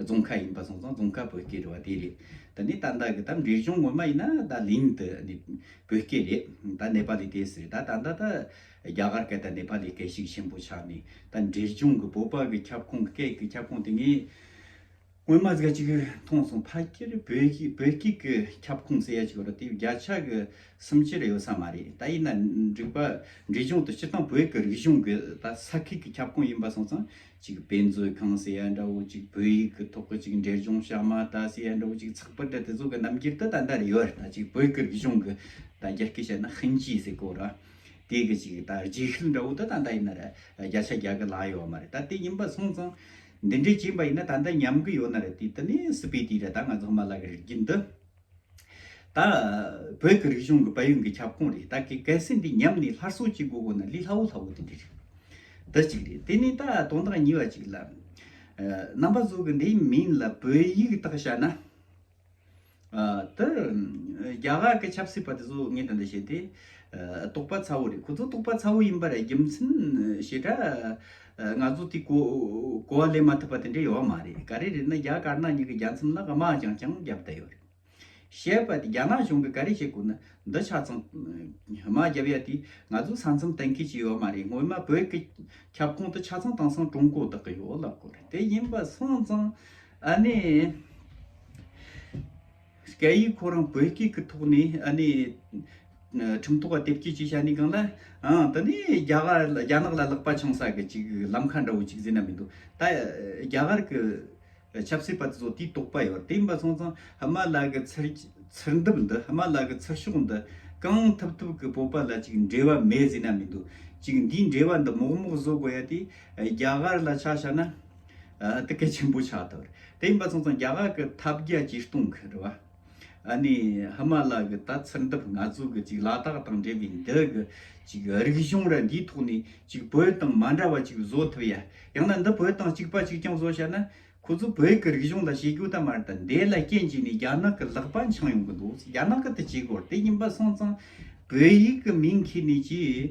རྫོང་ཁ་ཡིན་པ་སོང་ཙང་རྫོང་ཁ་བོད་སྐད་རེད་བ་དེ་རེད། ད་ནི་ད་ལྟ་གི་ད་འབྲས་ལྗོངས་ངོ་མ་ཡིན་ན་ད་གླིང་དུ་ནི་བོད་སྐད་རེད། ད་ནེ་པ་ལི་དེ་སི་ད་ད་ལྟ་ད་རྒྱ་གར་སྐད་དང་ནེ་པ་ལི་སྐད་ཞིག་ཆེན་པོ་ཆགས་ནས་ད་འབྲས་ལྗོངས་གི་བོད་པ་གི་ཁྱབ་ཁོངས་སྐད་ཀྱི་ཁྱབ་ཁོངས་དེ་ངས་སྔོན་མ་ཟིག་ཅིག་མཐོང་སོང་ཕ་སྐད་རེད་བོད་སྐད་བོད་སྐད་ཀྱི་ཁྱབ་ཁོངས་ཟེར་ཡ་ཅིག་ཡོད་རེད་དེ་བརྒྱ་ཆ་གི་སུམ་ཅུ་རེ་ཡོད་ས་མ་རེད་ད་ཡིན་ན་འགྲིག་པ་འབྲས་ལྗོངས་དུ་སྤྱིར་བཏང་བོད་ཀྱི་རིག་གཞུང་གི་ད་ས་ཁུལ་གྱི་ཁྱབ་ཁོངས་ཡིན་པ་སོང་ཙང། གཅིག་དཔེ་མཛོད་ཁང་ཟེར་ཡ་འདྲ་བོ་གཅིག་བོད་ཡིག་གི་ཐོག་གི་གཅིག་འབྲས་ལྗོངས་ཤ་མ་ཏཱ་ཟེར་ཡ་འདྲ་བོ་གཅིག་ཚགས་པར་དེ་ཚོ་གི་རྣམ་འགྱུར་ད་ད་འདྲ་རེ་ཡོད་རེད་ད་གཅིག་བོད་སྐད་རིག་གཞུང་གི་ད་རྒྱ་སྐད་བཤད་ན་ཧིན་ཇི་ཟེར་གོ་ར་དེ་གི་གཅིག་ད་རྗེས་ཤུལ་འདྲ་བོ་ད་ད་འདྲ་ཡིན་ན་ར་རྒྱ་ཆ་རྒྱ་གི་ལག་ཡོད་མ་རེད་ད་དེ་ཡིན་པ་སོང་ཙང་འདི་འདྲའི་བྱིན་པ་ཡིན་ན་ད་འདྲ་ཉམས་གི་ཡོད་ན་ར་དེ་ད་ནས་སི་པི་ཏི་ར་ད་ང་ཚོ་ཧ་མ་ལག་གི་རིག་རྒྱུན་འདི་ད། བོད་ཀྱི་རིག་གཞུང་གི་དཔལ་ཡོན་གྱི་ཁྱབ་ཁོངས་རེད་ད་གེ་གལ་སྲིད་འདི་ཉམས་ནས་སླར་གསོ་བྱེད་དགོས་དགོས་ན་ལི་ལྷ་བོ་ལྷ་བོ་དེ་འདི་རེད། འདི་གཅིག་རེད་དེ་ནས་ད་དོན་དག་གཉིས་པ་གཅིག་ལ། རྣམ་པ་གཟུགས་ཀྱི་འདིའི་མིང་ལ་བོད་ཡིག་དག་བྱ་ན། ད། རྒྱ་གར་གྱི་ཆབ་སྲིད་པ་དེ་ཚོ་ངས་ད་འདི་བྱས་ཏེ། རྟོགས་པ་ཚ་བོ་རེད་ཁོ་ཚོ་རྟོགས་པ་ཚ་བོ་ཡིན་པར་རྒྱུ་མཚན་ཞེ་དྲག། ང་ཚོ་དེ་གོ་བ་ལེན་མ་ཐུབ་པ་དེ་འདྲ་ཡོད་མ་རེད། ག་རེ་རེད་ན་རྒྱ་དཀར་ནག་གཉིས་ཀྱི་རྒྱ་མཚམས་ན་དམག་རྒྱང་རྐྱང་བརྒྱབ་བསྡད་ཡོད་རེད། བཤད་པ་དེ་རྒྱ་ནག་གཞུང་གིས་ག་རེ་བྱེད་དགོས་ན་འདི་ཆ་ཚང་དམག་བརྒྱབ་ཡ་དེ་ང་ཚོའི་ས་མཚམས་གཏན་འཁེལ་བྱས་ཡོད་མ་རེད་སྔོན་མ་བོད་ཀྱི་ཁྱབ་ཁོངས་དེ་ཆ་ཚང་དེང་སང་ཀྲུང་གོ་བདག་གི་ཡོད་ལབ་དགོས་རེད་དེ་ཡིན་པ་སོང་ཙང་ཨ་ནི། སྐད་ཡིག་ཁོ་རང་བོད་སྐད་ཀྱི་ཐོག་ནས་ཨ་ནི། ཁྲིམས་ཐོག་བ་དེབ་སྐྱེལ་བཅས་བྱ་ནི་གང་ལ། ཨང་དེ་ནས་རྒྱ་གར་རྒྱ་ནག་ལ་ལག་པ་འཆང་ས་གི་ཅིག་ལམ་ཁ་འདྲ་བོ་ཅིག་བཟོས་ན་མི་འདུག་ད་རྒྱ་གར་གི། ཆབ་སྲིད་པ་དེ་ཚོ་དེའི་དོགས་པ་ཡོད་དེ་ཡིན་པ་སོང་ཙང་ཧི་མ་ལ་གི་ཚུར་ཚུར་འདུབ་འདི་ཧི་མ་ལ་གི་ཚུར་ཤོག་འདི། གང་ཐུབ་ཐུབ་གི་བོད་པ་ལ་ཅིག་འབྲེལ་བ་མེད་བཟོས་ན་མི་འདུག་ཅིག་འདིའི་འབྲེལ་བ་འདི་མོག་མོག་བཟོ་དགོས་ཡ་དེ། རྒྱ་གར་ལ་ཆ་བྱ་ན། དེ་གལ་ཆེན་པོ་ཆགས་ཐུབ། དེ་ཡིན་པ་ཚང་ཚང་རྒྱ་གར་གི་ཐབས་བརྒྱ་ཇུས་སྟོང་གི་རེད་བ། ཨ་ནི་ཧི་མ་ལ་གི་ད་ཚུར་འདུབ་ང་ཚོ་གི་ཅིག་ལ་དྭགས་དང་འབྲེལ་བའི་འདི་གི་ཅིག་རིག་གཞུང་ར་འདིའི་ཐོག་ནས་ཅིག་བོད་དང་མ་འདྲ་བ་ཅིག་བཟོ་ཐུབ་ཡ། ཡང་ན་འདི་བོད་དང་གཅིག་པ་ཅིག་ཀྱང་བཟོ་བྱ་ན། ཁོ་ཚོ་བོད་གི་རིག་གཞུང་དང་བྱེད་རྒྱུ་དང་མ་རེད་ད། འདི་ལ་རྐྱེན་གྱིས་ནས་རྒྱ་ནག་གི་ལག་པ་འཆང་ཡོང་གི་འདུག་རྒྱ་ནག་གི་དེ་བྱེད་དགོས་རེད་དེ་ཡིན་པ་ཚང་ཚང་བོད་ཡིག་གི་མིང་ཁྱེར་ནས་ཅིག།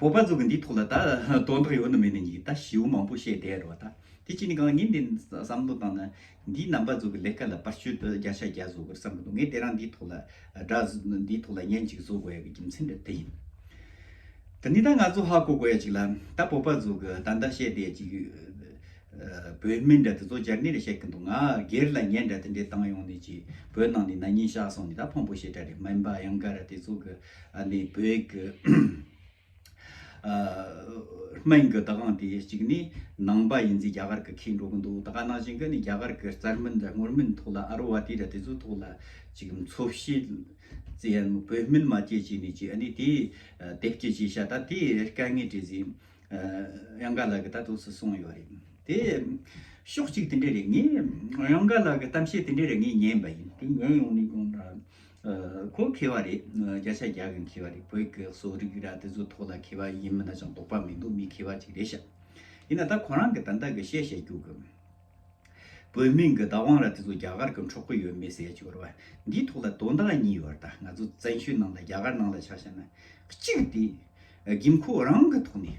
བོད་པ་ཚོ་གི་འདིའི་ཐོག་ལ་ད་དོན་དག་ཡོད་ན་མེད་ན་གཉིས་ད་ཞེའུ་མང་པོ་བཤད་བསྡད་རོགས་ད་དེ་གཅིག་ནི་གང་ངས་འདི་བསམ་བློ་བཏང་ན་འདིའི་རྣམ་པ་ཚོ་གི་ལས་ཀ་ལ་པར་གཅོད་དུ་བརྒྱ་ཆ་བརྒྱ་བཟོ་དགོས་བསམ་གི་འདུག་ངས་དེ་རང་འདིའི་ཐོག་ལ་སྒྲ་འདིའི་ཐོག་ལ་བརྙན་གཅིག་བཟོ་དགོས་ཡ་གི་རྒྱུ་མཚན་དེ་དེ་ཡིན། དེ་ནི་ད་ང་ཚོ་ཧ་གོ་དགོས་ཡ་གཅིག་ལ་ད་བོད་པ་ཚོ་གི་ད་འདི་བཤད་བསྡད་ཡ་གཅིག་བོད་མི་འདྲ་དེ་ཚོ་འཇར་ནི་རེ་བཤད་གི་འདུག་ང་སྒེར་ལ་བརྙན་འདྲ་དེ་འདྲའི་བཏང་ཡོང་ནི་གཅིག་བོད་ནང་ནས་ན་ཉིན་བཞག་སོང་ནི་ད་ཕངས་པོ་བྱེད་གྲ་རེད་མ་ཡིན་པ་གཡང་དཀར་ར་དེ་ཚོ་གི་ཨ་ནི་བོད་ཀྱི་སྨན་གྱི་བདག་དབང་དེ་གཅིག་ནི་ནང་པ་ཡིན་ཚེ་རྒྱ་གར་གྱི་ཁེ་འགྲོ་གི་འདུག་ད་ག་ནང་བཞིན་གྱི་ནི་རྒྱ་གར་གྱི་རྩར་མིན་དང་ངོར་མིན་ཐོག་ལ་ཨ་རོ་བ་དེ་ར་དེ་ཚོའི་ཐོག་ལ་ཅིག་འཚོ་བྱེད་ཙི་ཡན་མོ་བོད་སྨན་མ་སྐྱེད་ཅིག་ནི་ཅིག་ཨ་ནི་དེ་དེབ་སྐྱེད་ཅིག་བྱ་ད་དེ་དཀའ་ངལ་འདྲེ་ཟིན་གཡང་དགའ་ལགས་ཀྱི་ད་དུ་སུ་གསུངས་ཡོད་རེད་དེ་ཕྱོགས་གཅིག་དེ་འདྲ་རེད་ངས་གཡང་དགའ་ལགས་ཀྱི་གཏམ་བཤད་དེ་འདྲ་རེད་ངས་ཉན་པ་ཡིན་དེ་ཉན་ཡོང་ནས་ཀྱང་ཁོ་འཁེལ་བ་རེད། སྐད་ཆ་རྒྱག་གིན་འཁེལ་བ་རེད། བོད་སྐད་གསོ་རིག་ར་དེ་ཚོའི་ཐོག་ལ་འཁེལ་བ་ཡིན་མིན་ན་ཅང་དོགས་པ་མི་འདུག་མི་འཁེལ་བ་ཅིག་རེད་ཤག། ཡིན་ན་ད་ཁོ་རང་གི་ད་ལྟ་གི་བཤད་བཤད་རྒྱུག་གི། བོད་མིང་གི་བདག་དབང་ར་དེ་ཚོ་རྒྱ་གར་གི་འཕྲོག་གི་ཡོད་མེད་གསལ་བྱེད་ར་འདིའི་ཐོག་ལ་དོན་དག་གཉིས་ཡོད་ར་ད་ང་ཚོ་བཙན་བྱོལ་ནང་ལ་རྒྱ་གར་ནང་ལ་ཆ་བཤད་ན། གཅིག་དེ། དགེ་མཁོ་རང་གི་ཐོག་ནས།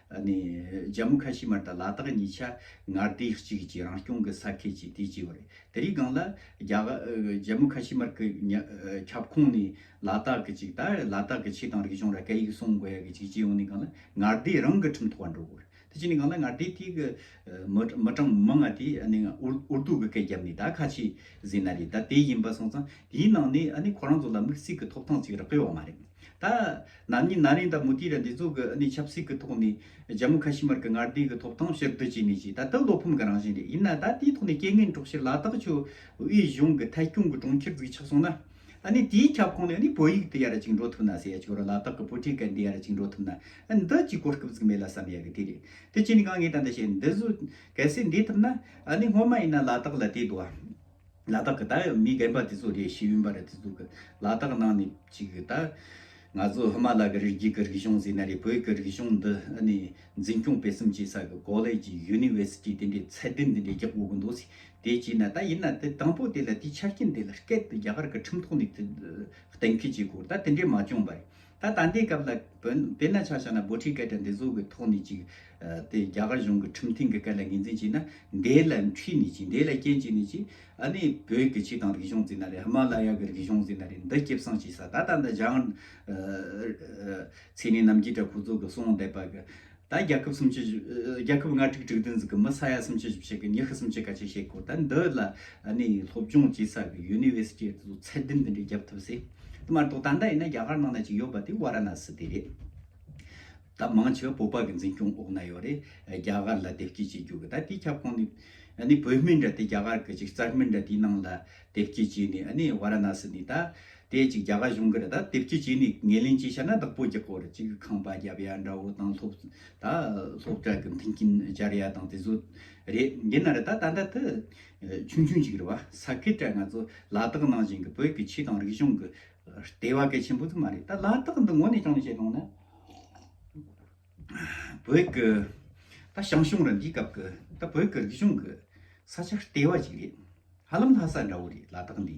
ནས་རྒྱ་མོ་ཁ་ཤི་མར་དང་ལ་དྭགས་གཉིས་ཆ་ང་སྡེ་གཅིག་གྱི་རང་སྐྱོང་གི་ས་ཁད་ཅིག་དེ་བྱས་པ་རེད། དེ་རིགས་སྒང་ལ། རྒྱ་མོ་ཁ་ཤི་མར་གི་ཁྱབ་ཁོངས་ནས་ལ་དྭགས་གི་ཅིག་ད་ལ་དྭགས་ཀྱི་ཆེད་དང་རིག་གཞུང་ར་སྐད་ཡིག་སྲུང་དགོས་ཡ་གི་ཅིག་བྱས་ཡོང་ནས་སྒང་ལ་ང་སྡེ་རང་གི་ཁྲིམས་ཐོག་བ་འགྲོ་དགོས་རེད། དེ་བྱས་ནས་སྒང་ལ་ང་སྡེ་དེ་གི་མི་གྲངས་མང་ང་དེ་ནས་འུར་རྡོ་གི་སྐད་བརྒྱབ་ནས་ད་ཁ་ཆེ་ཟིན་ན་རེད་ད་དེ་ཡིན་པ་སོང་ཙང་དེའི་ནང་ནས་ཁོ་རང་ཚོ་ལ་མིག་གསེས་ཀྱི་ཐོབ་ཐང་ཅིག་རག་གི་ཡོད་མ་རེད། ད། ནམ་ཉིན་ན་རིང་ད་མུ་ཏིག་ར་འདི་ཚོ་གི་ཨ་ནི་ཆབ་སྲིད་གི་ཐོག་ནས་རྒྱ་མོ་ཁ་ཤི་མར་གི་ངར་ལྡིག་གི་ཐོབ་ཐང་ཕྱིར་བསྡུ་བྱས་ནས་ཀྱི་ད་དེ་བློ་ཕམ་གི་རང་བཞིན་རེད་ཡིན་ན་ད་དེའི་ཐོག་ནས་རྐྱེན་ངན་གྲོགས་ཕྱིར་ལ་དྭགས་ཆུ་དབྱི་གཞུང་གི་ཐད་སྐྱོང་གི་གྲོང་ཁྱེར་འཛུགས་ཆགས་སོང་ན། ཨ་ནི་དེའི་ཁྱབ་ཁོངས་ནས་ཨ་ནི་བོད་ཡིག་འདི་ཡར་གཅིག་འགྲོ་ཐུབ་ན་ཟེར་ཡ་ཆུ་ར་ལ་དྭགས་གི་བུ་ཕྲུག་ག་འདི་ཡར་གཅིག་འགྲོ་ཐུབ་ན་ཨ་ནི་འདི་གཅིག་གོ་སྐབས་ཟིག་མེད་ལ་བསམ་ཡ་གི་དེ་རེད་དེ་ཁྱེད་ནས་གང་ངས་ད་འདི་བྱས་འདི་བཟོས་གལ་སྲིད་འདི་ཐུབ་ན་ཨ་ནི་སྔོན་མ་ཡིན་ན་ལ་དྭགས་ལ་དེ་དུ་བ། ལ་དྭགས་ཀྱི་ད་མི་རྒན་པ་དེ་ཚོ་རེད་ཤེས་ཡོན་པ་རེད་དེ་ཚོ་གི་ལ་དྭགས་ནང་ནས་ཅིག་གི་ད་ང་ཚོ་ཧི་མ་ལ་ཀྱི་རི་རྒྱུད་ཀྱི་རིག་གཞུང་ཟེར་ན་རེད་བོད་ཀྱི་རིག་གཞུང་འདི་ཨ་ནི་འཛིན་སྐྱོང་སྤེལ་གསུམ་བྱེད་ས་གི་ཀོ་ལེ་ཇི་ཡུ་ནི་ཝེ་སི་ཏི་དེ་འདྲའི་ཚད་ལྡན་དེ་འདྲའི་རྒྱག་དགོས་ཀྱི་འདུག་སི་དེ་བྱས་ན་ད་ཡིན་ན་དེ་དང་པོ་དེ་ལ་དེའི་ཆ་རྐྱེན་དེ་ལ་སྐད་དེ་རྒྱ་གར་གྱི་ཁྲིམས་ཐོག་ནས་དེ་གཏན་འཁེལ་བྱེད་དགོས་རེད་ད་དེ་འདྲའི་མ་བྱུང་བ་རེད་ད་ད་ལྟའི་སྐབས་ལ་བོན་དེ་ན་ཆ་ཆ་ན་འབོ་ཁྲིའི་སྐད་གྲགས་འདི་བཟོ་གི་ཐོག་ནས་ཅིག་དེ་རྒྱ་གར་གཞུང་གི་ཁྲིམས་ཐིང་གི་སྐད་ལ་ངེས་འཛིན་བྱས་ན་འདས་ལ་འཁྲིས་ནས་ཅིག་འདས་ལ་སྐྱེན་བྱས་ནས་ཅིག་ཨ་ནི་བོད་ཀྱི་ཆིག་དང་རིག་གཞུང་ཟེར་ན་རེད་ཧི་མ་ལ་ཡ་གི་རིག་གཞུང་ཟེར་ན་རེད་འདི་སྐྱེ་བསྲིང་བྱས་ས་ད་ད་འདི་བཞག་ཚེ་ནི་རྣམ་རྒྱལ་གྲགས་ཁོ་ཚོ་གི་གསུང་བསྡད་པ་གི་ད་རྒྱལ་ཁབ་སུམ་བཅུ་བཞི། རྒྱལ་ཁབ་ང་དྲུག་དྲུག་བདུན་གཟིགས་ཀྱི་མི་ས་ཡ་སུམ་བཅུ་བཞི་བྱེད་གི་མྱི་ཤི་སུམ་བཅུ་ག་ཅིག་བྱེད་དགོས་ད་འདི་ལ་ནས་སློབ་སྦྱོང་བྱེད་ས་གི་ཡུ་ནི་ཝེ་སི་ཏི་དུ་ཚད་ལྡན་འདི་འདྲའི་རྒྱབ་ཐུབ་སི་དེ་མ་གཏོགས་ད་ལྟ་ཡིན་ན་རྒྱ་གར་ནང་ན་ཅིག་ཡོད་པ་དེ་བྷ་ར་ན་སི་དེ་རེད། ད་མང་ཆེ་བ་བོད་པ་གི་འཛིན་སྐྱོང་འོག་ན་ཡོད་རེད་རྒྱ་གར་ལ་དེབ་སྐྱེལ་བྱེད་རྒྱུ་གི་ད་དེའི་ཁྱབ་ཁོངས་ནས་ནི་བོད་མི་འདྲ་དེ་རྒྱ་གར་གི་ཅིག་རྩར་མི་འདྲ་དེའི་ནང་ལ་དེབ་སྐྱེལ་བྱས་ནས་ནི་བྷ་ར་ན་སི་ནས་ད་དེ་ཅིག་རྒྱ་གར་གཞུང་གིར་ད་དེབ་ཀྱི་ཅིག་ནས་ངེས་ལེན་ཅིག་བྱ་ན་བདག་པོ་ཀྱི་སྐོར་ཅིག་ཁང་པ་རྒྱབ་ཡ་འདྲ་བོ་དང་སློབ་ད་སློབ་གྲྭ་གི་མཐུན་རྐྱེན་སྦྱར་ཡ་དང་དེ་ཚོ་རེད་འདི་ན་རེ་ད་ད་ད་དུ་ཆུང་ཆུང་ཅིག་རེད་བ་ས་ཁེ་ཏྲ་ང་ཚོ་ལ་དྭགས་ནང་བཞིན་གྱི་བོད་ཀྱི་ཆོས་དང་རིག་གཞུང་གི་ལྟེ་བ་གལ་ཆེན་པོ་དེ་མ་རེད་ད་ལ་དྭགས་འདི་ངོ་ནས་ཅང་ནས་བཤད་གནང་ན་བོད་ཀྱི་ད་ཞང་ཞུང་ར་འདིའི་སྐབས་ཀྱི་ད་བོད་ཀྱི་རིག་གཞུང་གི་ས་ཆ་ལྟེ་བ་ཅིག་རེད་ཧ་ལམ་ལྷ་ས་འདྲ་བོ་རེད་ལ་དྭགས་འདི།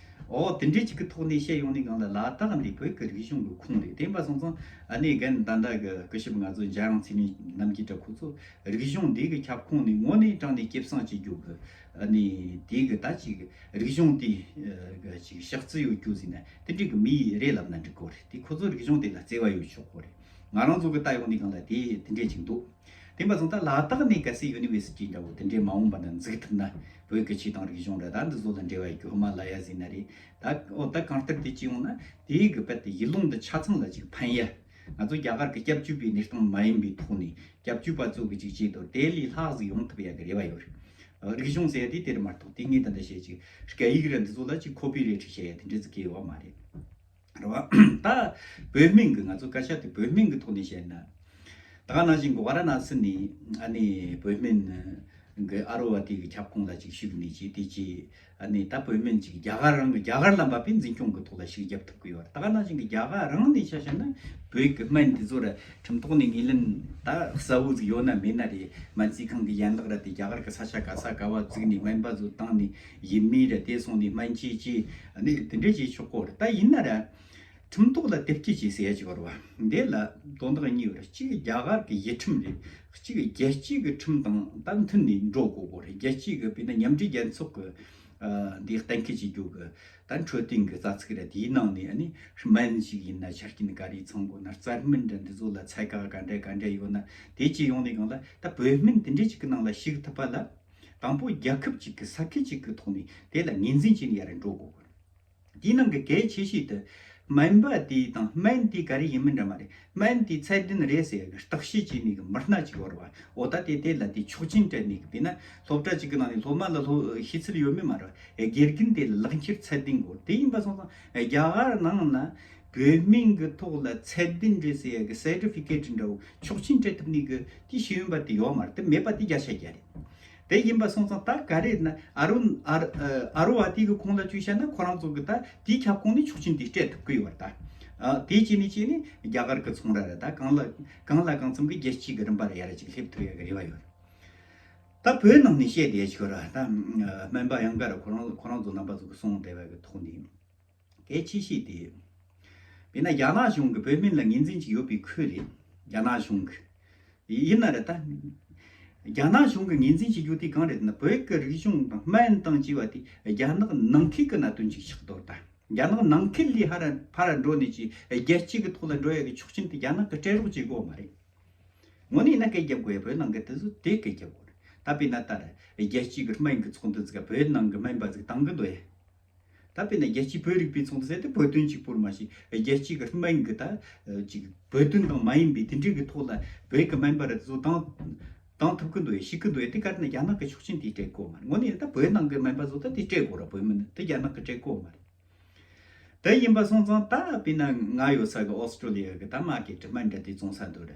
ཨོ་དེ་འདྲའི་ཅིག་གི་ཐོག་ནས་བཤད་ཡོང་ནས་གང་ལ་ལ་དག་འདི་བོད་ཀྱི་རིག་གཞུང་གི་ཁུངས་རེད་དེ་འབའ་སོང་ཙང་ཨ་ནེ་རྒན་ད་འདའ་གི་སྐུ་ཞབས་ང་ཚོ་འཇའ་ཡང་ཚེ་རིང་རྣམ་གྱི་འདྲ་ཁོ་ཚོ་རིག་གཞུང་འདི་གི་ཁྱབ་ཁོངས་ནས་ངོ་ནས་དྲངས་ནས་སྐྱེབས་སངས་བྱེད་རྒྱུ་གི་ཨ་ནེ་དེ་གི་ད་ཅིག་རིག་གཞུང་དེ་གི་ཅིག་ཤག་ཚི་ཡོད་རྒྱུ་ཟིན་ན་དེ་འདྲའི་གི་མི་ཡི་རེད་ལབ་ན་འགྲིག་གོ་རེད་དེ་ཁོ་ཚོ་རིག་གཞུང་དེ་ལ་བརྩེ་བ་ཡོད་ཆོག་གོ་རེད། ང་རང་ཚོ་གི་ལྟ་ཡོང་དེ་གང་ལ་དེ་དེ་འདྲས་ཅིག་འདུག་དེ་མ་ཚང་ད་ལ་དག་ནས་གལ་སྲིད་ཡུ་ནི་བེ་སི་ཏི་འདྲ་བོ་དེ་འདྲས་མ་འོངས་པ་ན་འཛུགས་ཐུབ་ན་བོད་ཀྱི་ཆེད་དང་རིག་གཞུང་རེ་ད་འདི་ཚོ་ལ་འབྲེལ་བ་ཡོད་ཁོ་མ་ལ་ཡ་ཟིན་ན་རེ་ད་ཨོ་ད་གང་ལྟར་དེ་ཅི་ཡོང་ན་དེ་གི་བལ་ཏི་ཡི་ལུང་དུ་ཆ་ཚང་ལ་ཅིག་ཕན་ཡ། ང་ཚོ་རྒྱ་གར་གི་སྐྱབས་བཅོལ་བའི་གནས་སྟངས་མ་ཡིན་པའི་ཐོག་ནས་སྐྱབས་བཅོལ་པ་ཚོ་གི་ཅིག་བྱས་དོར་དེ་ལས་ལྷག་ཟིག་ཡོང་ཐུབ་ཡ་གི་རེ་བ་ཡོད། རིག་གཞུང་ཟེར་ཡ་དེ་དེ་རུ་མ་གཏོགས་དེ་ངས་དེ་འདྲ་བྱས་ཅིག་སྐད་ཡིག་རེ་འདི་ཚོ་ལ་ཅིག་ཁོ་པི་རེ་ཁྲིག་བྱས་ཡ་དེ་འདྲས་ཚིག་གི་ཡོད་བ་མ་རེད། རེད་བ། ད། བོད་སྨན་གྱི་ང་ཚོ་བཀའ་ཤག་དེ་བོད་སྨན་གྱི་ཐོག་ནས་བཤད་ན། ད་ག་ནང་བཞིན་གོ་བ་ར་ན་སི་ནས་ཨ་ནི་བོད་སྨན་གྱི་ཨ་རོ་བ་དེ་གི་ཁྱབ་ཁོངས་ལ་ཅིག་ཞུགས་ཀྱི་མེད་ཅེས་དེ་རྗེས་ཨ་ནི་ད་བོད་སྨན་ཅིག་རྒྱ་གར་རང་གི་རྒྱ་གར་ལ་འབབ་པའི་འཛིན་སྐྱོང་གི་ཐོག་ལ་ཞིག་རྒྱབ་ཐུབ་ཀྱི་ཡོད་རེད་ད་ག་ནང་བཞིན་གྱི་རྒྱ་གར་རང་ནས་ཆ་བཤད་ན་བོད་ཀྱི་སྨན་དེ་ཚོ་ར་ཁྲིམས་ཐོག་ནས་ངེས་ལེན་ད་གསལ་བོ་ཅིག་ཡོད་ན་མེད་ན་རེད་སྨན་རྩིས་ཁང་གི་ཡན་ལག་ར་དེ་རྒྱ་གར་གྱི་ས་ཆ་ག་ས་ག་བ་བརྩིགས་ནས་སྨན་པ་ཚོ་བཏང་ནས་ཡིན་མིན་རེད་དེ་སོང་ནས་སྨན་སྐྱིད་ཀྱིས་གནས་ལུགས་དེ་འདྲས་བྱས་ཆོག་གོ་རེད་ད་ཡིན་ན་རེད། ཁྲིམས་ཐོག་ལ་དེབ་སྐྱེལ་བྱས་ཟེར་ཡག་གི་རེད་བ། དེ་ལ་དོན་དག་གཉིས་རེད་གཅིག་རྒྱ་གར་གྱི་ཡིག་ཁྲིམས་རེད་གཅིག་རྒྱལ་སྤྱིའི་གི་ཁྲིམས་དང་ད་མཐུན་ནས་འགྲོ་དགོས་གོ་རེད་རྒྱལ་སྤྱིའི་གི་དཔེར་ན་མཉམ་འབྲེལ་རྒྱལ་ཚོགས་གི་འདི་གཏན་འཁེལ་བྱེད་རྒྱུ་གི་ད་འཕྲོད་བསྟེན་གི་རྩ་ཚིག་རེད་དེའི་ནང་ནས་ནི་སྨན་ཞིག་ཡིན་ན་ཆ་རྐྱེན་ག་རེ་ཚང་དགོས་ན་རྩར་སྨན་འདྲ་འདི་ཚོ་ལ་ཚད་ག་ག་འདྲ་ག་འདྲ་ཡོད་ན་དེ་བཅས་ཡོང་ནས་གང་ལ་ད་བོད་སྨན་དེ་འདྲས་ཅིག་གི་ནང་ལ་ཞུགས་ཐུབ་པ་ལ། དང་པོ་རྒྱལ་ཁབ་ཅིག་གི་ས་ཁུལ་ཅིག་གི་ཐོག་ནས་དེ་ལ་ངེས་འཛིན་བྱས་ནས་ཡར་འགྲོ་དགོས་པ་རེད། དེའི་ནང་གི་གལ་ཆེ་ཤོས་དེ། སྨན་པ་དེ་དང་སྨན་དེ་ག་རེ་ཡིན་མིན་འདྲ་མ་རེད། སྨན་དེ་ཚད་ལྡན་རེད་ཟེར་གི་བརྟག་དཔྱད་བྱས་ནས་གི་མི་སྣ་ཅིག་བོར་བ། འོ་ད་དེ་དེ་ལ་དེ་ཆོག་མཆན་སྤྲད་ནས་གི་དེ་ན་སློབ་གྲྭ་ཅིག་གི་ནང་ནས་སློབ་མ་ལ་སློབ་ཤེས་ཚུལ་ཡོད་མེད་མ་རེད། དགེ་རྒན་དེ་ལ་ལག་འཁྱེར་ཚད་ལྡན་དགོས་རེད་དེ་ཡིན་པ་སོང་ཙང་རྒྱ་གར་ནང་ལ། བོད་སྨན་གི་ཐོག་ལ་ཚད་ལྡན་རེད་ཟེར་གི Certificate འདྲ་བོ་ཆོག་མཆན་སྤྲད་ཐུབ་ནས་གི་ཀྱི་ཤེས་ཡོན་པ་དེ་ཡོད་མ་རེད་དེ་མེད་པ་དེ་བརྒྱ་ཆ་བརྒྱ་རེད། དེ་ཡིན་པ་སོང་ཙང་ད་ག་རེད་ན་ཨ་རུ་ཨ་རུ་བྷ་ཏི་གི་ཁོང་ལ་བཅུས་བཤད་ན་ཁོ་རང་ཚོ་གི་ད་དེའི་ཁྱབ་ཁོངས་ནས་ཆོག་མཆན་དེ་སྤྲད་ཐུབ་ཀི་ཡོད་རེད་ད། དེའི་གཅིག་ནས་གཅིག་ནས་རྒྱ་གར་གི་ཚོང་ར་རེད་ད་གང་ལ་གང་ལ་གང་འཚམ་གི་རྒྱལ་སྤྱིའི་གི་རིམ་པ་ལ་ཡར་རེ་ཅིག་སླེབས་ཐུབ་ཡོད་ཀྱི་རེ་བ་ཡོད་རེད། ད་བོད་ནང་ནས་བཤད་བསྡད་ཀྱི་རེད་ད་སྨན་པ་ཡང་འགའ་རེ་ཁོ་རང་ཁོ་རང་ཚོ་རྣམ་པ་ཚོ་གི་གསུང་བསྡད་པ་གི་ཐོག་ནས། གལ་ཆེ་ཤོས་དེ་ཡིན། དེས་ན་རྒྱ་ནག་གཞུང་གིས་བོད་མི་ལ་ངེས་འཛིན་གྱི་ཡོད་པའི་ཁུལ་རེད། རྒྱ་ནག་གཞུང་གིས། ཡིན་ན་རེད་ད། རྒྱ་ནག་གཞུང་གིས་ངེས་འཛིན་བྱེད་རྒྱུ་དེ་གང་རེད་ཟེར་ན་བོད་ཀྱི་རིག་གཞུང་དང་སྨན་དང་ཅེས་པ་དེ་རྒྱ་ནག་ནང་ཁུལ་གྱི་གནད་དོན་ཅིག་ཆགས་འདུག་ད། རྒྱ་ནག་ནང་ཁུལ་ལས་ཧ་ར་ཕ་ར་འགྲོ་ནས་ཀྱི་རྒྱལ་སྤྱི་གི་ཐོག་ལ་འགྲོ་ཡ་གི་ཆོག་མཆན་དེ་རྒྱ་ནག་གི་སྤྲད་རོགས་བྱེད་དགོས་མ་རེད། ངོ་ནས་ཡིན་ན་སྐད་རྒྱབ་དགོས་ཡ་བོད་ནང་གི་དེ་ཚོ་དེ་སྐད་རྒྱབ་དགོས་རེད་ད་དཔེ་ན་ད་རེད་རྒྱལ་སྤྱི་གི་སྨན་གྱི་ཚོགས་འདུ་ཚིག་ག་བོད་ནང་གི་སྨན་པ་ཚིག་གཏང་གི་འདུག་ཡ། ད་དཔེར་ན་རྒྱལ་སྤྱིའི་བོད་རིག་པའི་ཚོགས་འདུ་ཟེར་ཏེ་བོད་དོན་གཅིག་པུར་མ་ཞིག་རྒྱལ་སྤྱིའི་གི་སྨན་གི་ད་ཅིག་བོད་དོན་དང་མ་ཡིན་པའི་དེ་འདྲའི་གི་ཐོག་ལ་བོད་གི་སྨན་པ་རེ་ཟུང་བཏང་བཏང་ཐུབ་གི་འདུག་ཡ་ཤི་གི་འདུག་ཡ་དེ་གར་ན་རྒྱ་ནག་གི་ཆོག་མཆན་དེ་སྤྲད་དགོས་མ་རེད་ངོ་ནས་ད་བོད་ནང་གི་སྨན་པ་ཟོ་ད་དེ་སྤྲད་དགོས་ར་བོད་མི་ནི་དེ་རྒྱ་ནག་གི་སྤྲད་དགོས་མ་རེད་ད་ཡིན་པ་སོང་ཙང་ད་དཔེར་ན་ང་ཡོད་ས་གི་ཨོ་སི་ཀྲོ་ལི་ཡ་གི་ད་མ་གི་གྲི་སྨན་འདྲ་དེ་བཙོང་ས་འདུག་ར་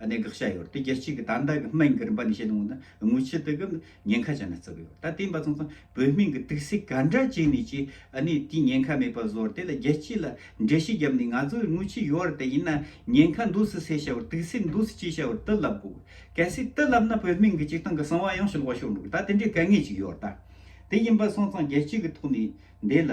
གནད་འགག་བྱས་ཡོད་དེ་རྒྱལ་སྤྱི་གི་དར་མདའ་གི་སྨན་གྱི་རིམ་པ་ནས་བཤད་ལུང་ན་དངུལ་ཆུ་དེ་གི་ཉེན་ཁ་ཅན་ནས་བརྩི་གི་ཡོད་ད་དེ་འབའ་ཚང་ཚང་བོད་མིང་གི་དུག་སེལ་ག་འདྲ་བྱས་ནས་ཀྱི་ནི་དེ་ཉེན་ཁ་མེད་པ་བཟོར་དེ་ལ་རྒྱལ་སྤྱི་ལ་འགྲེལ་བཤད་བརྒྱབ་ནས་ང་ཚོ་དངུལ་ཆུ་ཡོད་དེ་ཡིན་ན་ཉེན་ཁ་འདུག་སེ་སེ་བྱ་བར་དུག་སེལ་འདུག་སེ་ཅི་བྱ་བར་དུ་ལབ་དགོས་གལ་སྲིད་དུ་ལབ་ན་བོད་མིང་གི་སྤྱི་སྟངས་གི་གསང་བ་ཡང་ཞི་ལོག་ཤོར་འགྲོ་གི་ད་དེ་འདྲའི་དཀའ་ངལ་ཅིག་ཡོད་ད་དེ་ཡིན་པ་སོང་ཙང་རྒྱལ་སྤྱི་གི་ཐོག་ནས་འདི་ལ།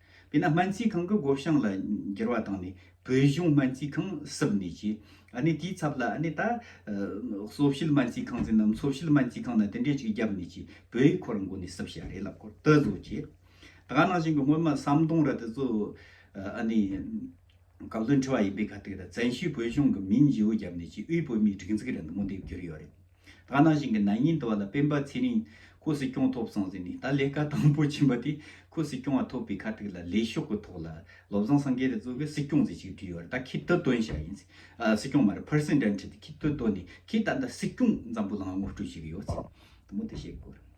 དེས་ན་སྨན་རྩིས་ཁང་གི་སྒོ་བྱང་ལ་འགྱུར་བ་བཏང་ནས་བོད་གཞུང་སྨན་རྩིས་ཁང་གསུབ་ནས་ཀྱི། ནས་དེའི་ཚབ་ལ་ནས་ད། གསོ་བྱེད་སྨན་རྩིས་ཁང་ཟེར་ནམ་འཚོ་བྱེད་སྨན་རྩིས་ཁང་ན་དེ་འདྲས་ཅིག་བརྒྱབ་ནས་ཀྱི་བོད་ཡིག་ཁོ་རང་མགོ་ནས་གསུབ་བྱས་རེད་ལབ་ཁོ་ལྟ་བཟོ་ཀྱི། ད་ག་ནང་བཞིན་གྱི་སྔོན་མ་ཟམ་གདོང་ར་དེ་ཚོ། ནས། གབ་ལོན་ཁྲི་བ་ཡིན་པའི་ཁ་ཐུག་ད་བཙན་བྱོལ་བོད་གཞུང་གི་མིང་བྱིའུ་བརྒྱབ་ནས་ཀྱི་དབུས་བོད་མིའི་སྒྲིག་འཛུགས་རེད་མདོ་མོ་འདེབས་རྒྱུར་ཡོད་རེད། ཐ་ན་ཞིང་གི་ནང་ཉིན་དུ་བ་ལ་སྤེན་པ་ཚེ་རིང་ཁོ་སྲིད་སྐྱོང་ཐོབ་སོང་ཟེར་ནས་ད་ལས་ཀ་དང་པོ་བྱིན་པ་དེ་ཁོ་སྲིད་སྐྱོང་བ་ཐོབ་པའི་ཁ་ཐུག་ལ་ལས་ཤོག་གི་ཐོག་ལ་ལོ་བཟང་སང་གེ་རེ་གཙོ་བའི་སྲིད་སྐྱོང་ཟེར་ཞིག་བྲིས་ཡོད་རེད་ད་ཁྱི་ལྟོས་དོན་བྱ་ཡིན་ཟེར་སྲིད་སྐྱོང་མ་རེད་ཕར་སེང་དྲན་ཁྲིད་དེ་ཁྱི་ལྟོས་དོན་ནས་ཁྱི་ད་ལྟ་སྲིད་སྐྱོང་འཛམ་བུ་ལང་ངོ་སྤྲོད་བྱེད་ཀྱི་ཡོད་ཟེར་དེ་མོ་དེ་བཤད་དགོས་རེད།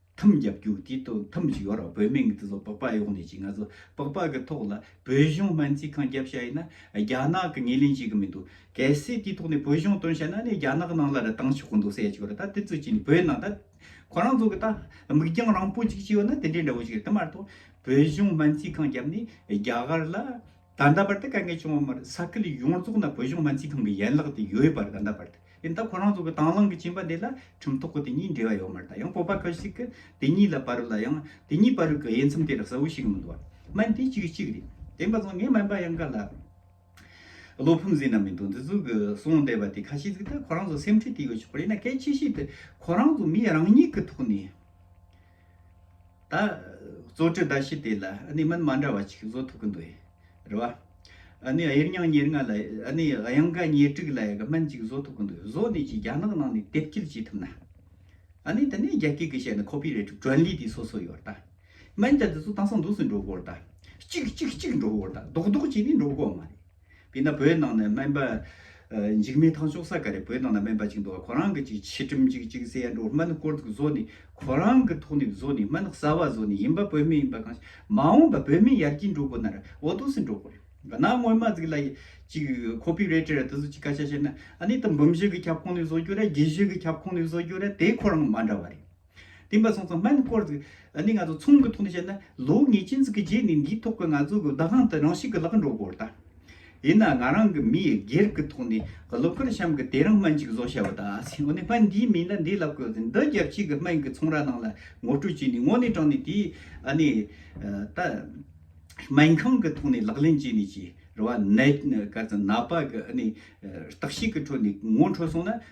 ཐུམ་རྒྱབ་རྒྱུག་དེའི་སྟོད་ཐུམ་གཅིག་ཡོད་རང་བོད་མིང་གི་དེ་ཚོ་པགས་པ་གཡོག་ནས་ཅིག་ང་ཚོ་པགས་པ་གི་ཐོག་ལ་བོད་གཞུང་སྨན་རྩིས་ཁང་རྒྱབ་བྱ་ཡིན་ན་རྒྱ་ནག་གི་ངེས་ལེན་བྱེད་གི་མི་འདུག་གལ་སྲིད་དེའི་ཐོག་ནས་བོད་གཞུང་དོན་བྱས་ན་ནི་རྒྱ་ནག་ནང་ལ་རི་ཐང་ཆོག་གི་འདུག་སེ་ཅིག་རེད་ད་དེ་ཚོ་ཅིག་ནི་བོད་ནང་ད་ཁོ་རང་ཚོ་གི་ད་མིག་རྒྱང་རིང་པོ་ཅིག་ཅིག་ཡོད་ན་དེ་འདྲའི་འདྲ་བོ་ཅིག་རེད་དེ་མ་གཏོགས་བོད་གཞུང་སྨན་རྩིས་ཁང་རྒྱབ་ནས་རྒྱ་གར་ལ། ད་ལྟ་བར་དུ་དཀའ་ངལ་བྱུང་བ་མ་རེད་ས་ཁུལ་ཡོངས་རྫོགས་ན་བོད་གཞུང་སྨན་རྩིས་ཁང་གི་ཡན་ལག་དེ་ཡོད་པ་རེད་ད་ལྟ་བར་དུ་ཡིན་ད་ཁོ་རང་ཚོ་གི་དང་བླངས་གི་བྱིན་པ་འདི་ལ་ཁྲིམས་ཐོག་གི་དེ་གཉིས་འབྲེལ་བ་ཡོད་མ་རེད་ད་ཡང་སྤོབས་པ་ཁ་ཤིག་གི་དེ་གཉིས་ལ་བར་ལ་ཡང་དེ་གཉིས་བར་གི་དབྱེ་མཚམས་དེ་རག་ས་བོ་ཞིག་མི་འདུག་བ་སྨན་དེ་གཅིག་གི་གཅིག་རེད་དེ་འབའ་ཚང་ངའི་སྨན་པ་ཡང་ག་ལ་བློ་ཕམ་ཟིན་ན་མི་འདུག་འདི་ཚོ་གི་གསུང་བསྡད་པ་དེ་ཁ་ཤིག་གིས་ད་ཁོ་རང་ཚོ་སེམས་ཁྲལ་དེ་ཡོད་ཆོག་པ་རེད་ཡིན་ན་གལ་ཆེ་ཤོས་དེ་ཁོ་རང་ཚོ་མིའི་རང་ཉིད་གི་ཐོག་ནས་ད་གཙོ་གྲི་ཟླ་ཕྱེད་དེ་ལ་ཨནི་མན་མ་འདྲ་བ་ཅིག་བཟོ་ཐུབ་གི་འདུག་ཡེ་རེད་བ། ཨནི་དབྱེར་མྱང་ཉེར་ལྔ་ལ་ཨནི་དབྱང་ག་ཉེར་དྲུག་ལ་ཡག་སྨན་ཅིག་བཟོ་ཐུབ་གི་འདུག་བཟོ་ནས་ཀྱི་རྒྱ་ནག་ནང་ནས་དེབ་སྐྱེལ་བྱེད་ཐུབ་ན། ཨནི་དེ་ནས་རྒྱ་སྐད་གི་བཤད་ན་ཁོ་པི་རེ་ཏི་དྲོན་ལི་དེ་སོ་སོ་ཡོད་ད། སྨན་རྒྱ་དེ་ཚོ་དང་སང་འདུག་སི་འགྲོ་དགོ་རེད་ད། གཅིག་གཅིག་གཅིག་འགྲོ་དགོ་རེད་ད་ལྡོག་ལྡོག་བྱས་ནས་འགྲོ་དགོ་བ་མ་རེད། དེས་ན་བོད་ནང་ནས་སྨན་པ། འཇིགས་མེད་ཐང་ཅོག་ས་ག་རེ་བོད་ནང་ན་སྨན་པ་ཅིག་འདུག་ཨ་ཁོ་རང་གི་ཅིག་ཕྱི་དྲིམ་ཅིག་ཅིག་སེ་ཡ་འགྲོ་སྨན་སྐོར་དུ་བཟོ་ནི་ཁོ་རང་གི་ཐོག་ནས་བཟོ་ནི་སྨན་གསར་བ་བཟོ་ནི་ཡིན་པ་བོད་མི་ཡིན་པ་གང་ཞིག་མ་འོངས་པ་བོད་མི་ཡར་རྒྱས་འགྲོ་དགོས་ན་ར་འོ་དོ་སེ་འགྲོ་དགོས་རེད་ག་ནང་སྔོན་མ་ཟིག་ལ་ཡི་ཅིག་ཁོ་པི་རེ་ཏེ་ར་དེ་ཚོ་ཅིག་སྐད་ཆ་བཤད་ན་ཨ་ནི་ད་འབུམ་བཞི་གི་ཁྱབ་ཁོངས་ནས་བཟོ་རྒྱུ་ར་བརྒྱད་བཞི་གི་ཁྱབ་ཁོངས་ནས་བཟོ་རྒྱུ་ར་དེ་ཁོ་རང་མ་འདྲ་བ་རེད། བསྟན་པ་སོང་ཙང་སྨན་བསྐོར་ཟིག། ནི་ང་ཚོ་ཚོང་གི་ཐོག་ནས་བཤད་ན་ལོ་ངེས་ཅན་ཟིག་གི་རྗེས་ནས་འདིའི་ཐོག་གི་ང་ཚོ་གི་བདག་དབང་དེ་རང་ཞིག་གི་ལག་འགྲོ་དགོས་ད། ཡིན་ན་ང་རང་གི་མིའི་སྒེར་གི་ཐོག་ནས་ལོ་འཁོར་གཤམ་གི་དེ་རིང་སྨན་ཅིག་བཟོ་བྱ་བ་ད། འོ་ནི་སྨན་འདིའི་མིང་ལ་འདི་ལབ་དགོས་ཟིག་འདི་རྒྱབ་ཕྱི་གི་སྨན་གི་ཚོང་ར་ནང་ལ་ངོ་སྤྲོད་བྱས་ནས་ངོ་ནས་དྲངས་ནས་དེའི་ནི་ད། སྨན་ཁང་གི་ཐོག་ནས་ལག་ལེན་བྱས་ནས་ཀྱི་རེ་བ་ནད་ཀར་ཙམ་ན་པ་གི་ནི་རྟགས་ཤིག་གི་ཁྲོད་ནས་ངོ་འཕྲོད་སོང་ན་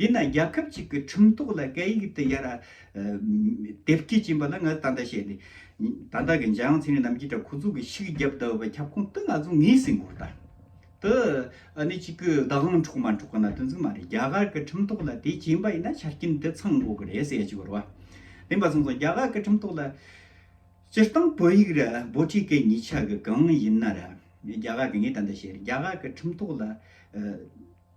ཡིན་ནའང་རྒྱལ་ཁབ་ཅིག་གི་ཁྲིམས་ཐོག་ལ་སྐད་ཡིག་དེ་ཡར་དེབ་སྐྱེལ་གྱིན་པ་ལ་ང་ད་ལྟ་བཤད་ནས་ད་ལྟ་གི་འཇའ་ཡང་ཚེ་རིང་རྣམ་རྒྱལ་འདྲ་ཁོ་ཚོ་གི་ཤིག་རྒྱབ་ལྟ་བུ་བའི་ཁྱབ་ཁོངས་དུ་ང་ཚོ་ངེས་ཟིན་དགོས་ད། དེ་ནི་གཅིག་གི་བདག་དབང་འཕྲོག་མ་འཕྲོག་གི་ན་དོན་ཙམ་མ་རེད་རྒྱ་གར་གི་ཁྲིམས་ཐོག་ལ་དེ་གྱིན་པ་ཡིན་ན་ཆ་རྐྱེན་དེ་ཚང་དགོས་ཀྱི་རེད་ཟེར་གྱི་ཡོད་རེད། དེ་མ་གསུངས་སོང་རྒྱ་གར་གི་ཁྲིམས་ཐོག་ལ་སྤྱིར་བཏང་བོད་ཡིག་རེད་འབོ་ཁྲི་ཀའི་ཉིས་ཆ་གི་གང་ཡིན་ན་རེད་རྒྱ་གར་གི་ངས་ད་ལྟ་བཤད་རྒྱ་གར་གི་ཁྲིམས་ཐོག་ལ།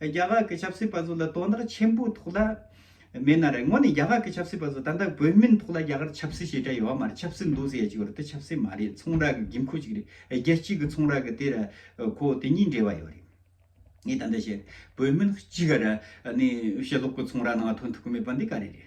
རྒྱ་གར་གྱི་ཆབ་སྲིད་པ་ཚོ་ལ་དོ་བདག་ཆེན་པོ་ཐོག་ལ་མེད་ན་རེད་ངོ་ནས་རྒྱ་གར་གྱི་ཆབ་སྲིད་པ་ཚོ་ད་ལྟ་བོད་མིན་ཐོག་ལ་རྒྱ་གར་ཆབ་སྲིད་ཞེས་དྲ་ཡོད་མ་རེད་ཆབ་སྲིད་འདུག་ཟེར་ཡ་ཅིག་ཡོད་རེད་དེ་ཆབ་སྲིད་མ་རེད་ཚོང་ར་གི་དགེ་འཁོ་ཅིག་རེད་རྒྱལ་སྤྱི་གི་ཚོང་ར་གི་དེ་ར་ཁོ་དེ་གཉིས་འབྲེལ་བ་ཡོད་རེད་ངས་ད་ལྟ་བཤད་རེད་བོད་མིན་གཅིག་ག་ར་ནས་ཞེ་ལོག་གི་ཚོང་ར་ནང་དོན་ཐུག་གི་མེད་པ་འདི་ག་རེ་རེད།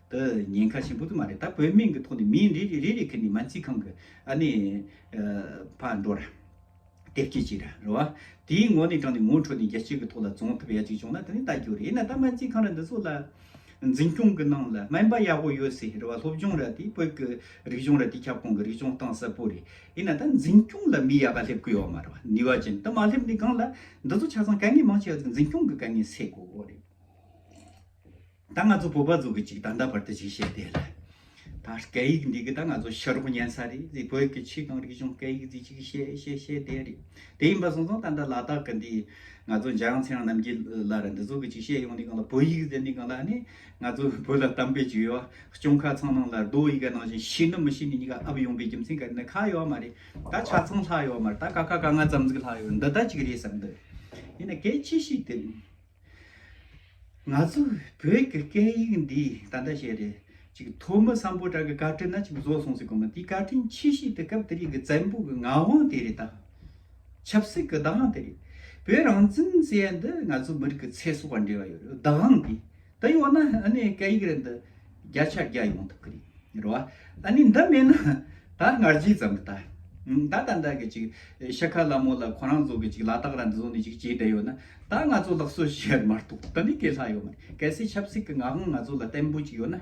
འདི་ཉེན་ཁ་ཆེན་པོ་དེ་མ་རེད་ད་བོད་མིང་གི་ཐོག་ནས་མི་རེ་རེ་རེ་རེ་ཁེར་ནས་མ་འཚིག་ཁང་གི་ཨ་ནེ་ཕ་འགྲོ་ར། དེབ་སྐྱེལ་བྱེད་ར་རེད་བ། དེའི་ངོ་ནས་དྲངས་ནས་ངོ་འཕྲོད་ནས་རྒྱལ་སྤྱི་གི་ཐོག་ལ་རྫོང་ཐུབ་ཡ་གཅིག་བྱུང་ན་དེ་ནི་ལྟ་རྒྱུ་རེད་ཡིན་ན་ད་མ་འཚིག་ཁང་ར་འདི་ཚོ་ལ། འཛིན་སྐྱོང་གི་ནང་ལ་སྨན་པ་ཡག་པོ་ཡོད་སའི་རེད་བ་སློབ་སྦྱོང་ར་དེ་བོད་ཀྱི་རིག་གཞུང་ར་དེ་ཁྱབ་ཁོངས་ཀྱི་རིག་གཞུང་གཏང་ས་པོ་རེད་ཡིན་ན་ད་འཛིན་སྐྱོང་ལ་མི་ཡག་པ་སླེབས་དགོས་བ་མ་རེད་བ་ནུས་བ་ཅན་དེ་མ་སླེབས་ནས་སྒང་ལ་འདི་ཚོ་ཆ་ཚང་དཀའ་ངལ་མང་ཆེ་བ་འཛིན་སྐྱོང་གི་དཀའ་ངལ་སེལ་དགོས་བ་རེད། ད་ང་ཚོ་བོད་པ་ཚོ་གི་ཅིག་ད་ལྟ་བར་དུ་ཅིག་བཤད་དེ་རེད། ད་སྐད་ཡིག་འདི་གི་ད་ང་ཚོ་ཤི་རོགས་ཉན་ས་རེད་ཟིག་བོད་ཀྱི་ཆོས་གང་རིག་གཞུང་སྐད་ཡིག་ཟིག་ཅིག་བཤད་བཤད་བཤད་དེ་རེད། དེ་ཡིན་པ་སོང་སོང་ད་ལྟ་ལ་དྭགས་ཀྱི་འདི་ང་ཚོ་འཇའ་ཡང་ཚེ་ཡང་རྣམ་རྒྱལ་ལ་ར་འདི་ཚོ་གི་ཅིག་བཤད་ཡོང་ནི་གང་ལ་བོད་ཡིག་ཟེར་ནི་གང་ལ་ནི་ང་ཚོ་བོད་ལ་དམ་པའི་ཇུས་ཡོ་སྐྱོང་ཁ་ཚང་ནང་ལ་རྡོ་ཡི་ག་ནང་བཞིན་ཤི་ནི་མི་ཤི་ནི་གཉིས་ཀ་ཨ་བུ་ཡོང་པའི་རྒྱུ་མཚན་ག་རེ་ནི་ཁ་ཡོད་མ་རེད་ད་ཆ་ཚང་ལྷག་ཡོད་མ་རེད་ད་ཀ་ཁ་ག་ང་ཙམ་ཟིག་ལྷག་ཡོད་འདི་ལྟ་ཅིག་རེད་བསམ་འདོད་ཡིན་ན་གལ་ཆེ་ཤོས་དེ་རེད། ང་ཚོ་བོད་ཀྱི་སྐད་ཡིག་འདི་ད་ལྟ་བཤད་རེས་ཅིག་ཐོག་མི་སམ་པོ་བྲག་གི་བཀའ་དྲིན་ན་ཅིག་བཟོ་སོང་ཟེར་དགོས་མོད་དེའི་བཀའ་དྲིན་ཆེ་ཤོས་དེ་སྐབས་དེ་རིང་གི་བཙན་པོ་གི་ངག་དབང་དེ་རེད་དཱ། ཆབ་སྲིད་ཀྱི་བདག་དབང་དེ་རེད། བོད་རང་བཙན་ཟེར་ཡ་འདི་ང་ཚོ་མི་རིགས་ཀྱི་ཚེ་སྲོག་དང་འབྲེལ་བ་ཡོད་རེད་བདག་དབང་འདི། དེ་ཡོད་ན་ཨ་ནེ་སྐད་ཡིག་རེད་འདི། བརྒྱ་ཆ་བརྒྱ་ཡོང་ཐུབ་ཀྱི་རེད་རེད་བ། ཨ་ནི་འདི་མེད་ན་ད་ང་རྗེས་ཙམ་གྱི་ད། ད་ལྟ་འདྲ་གི་ཅིག་ཤ་ཁ་ལ་མོ་ལ་ཁོ་རང་ཚོ་གི་ཅིག་ལ་དྭགས་ར་འདི་ཚོ་ནས་ཅིག་བྱས་བསྡད་ཡོད་ན་ད་ང་ཚོ་ལགས་སོ་ཞེས་ཡར་མར་གཏོགས་དེ་ནི་གས་ལྷག་ཡོད་མ་རེད་གལ་སྲིད་ཆབ་སྲིད་ཀྱི་ངག་དབང་ང་ཚོ་ལ་བརྟན་པོ་ཅིག་ཡོད་ན།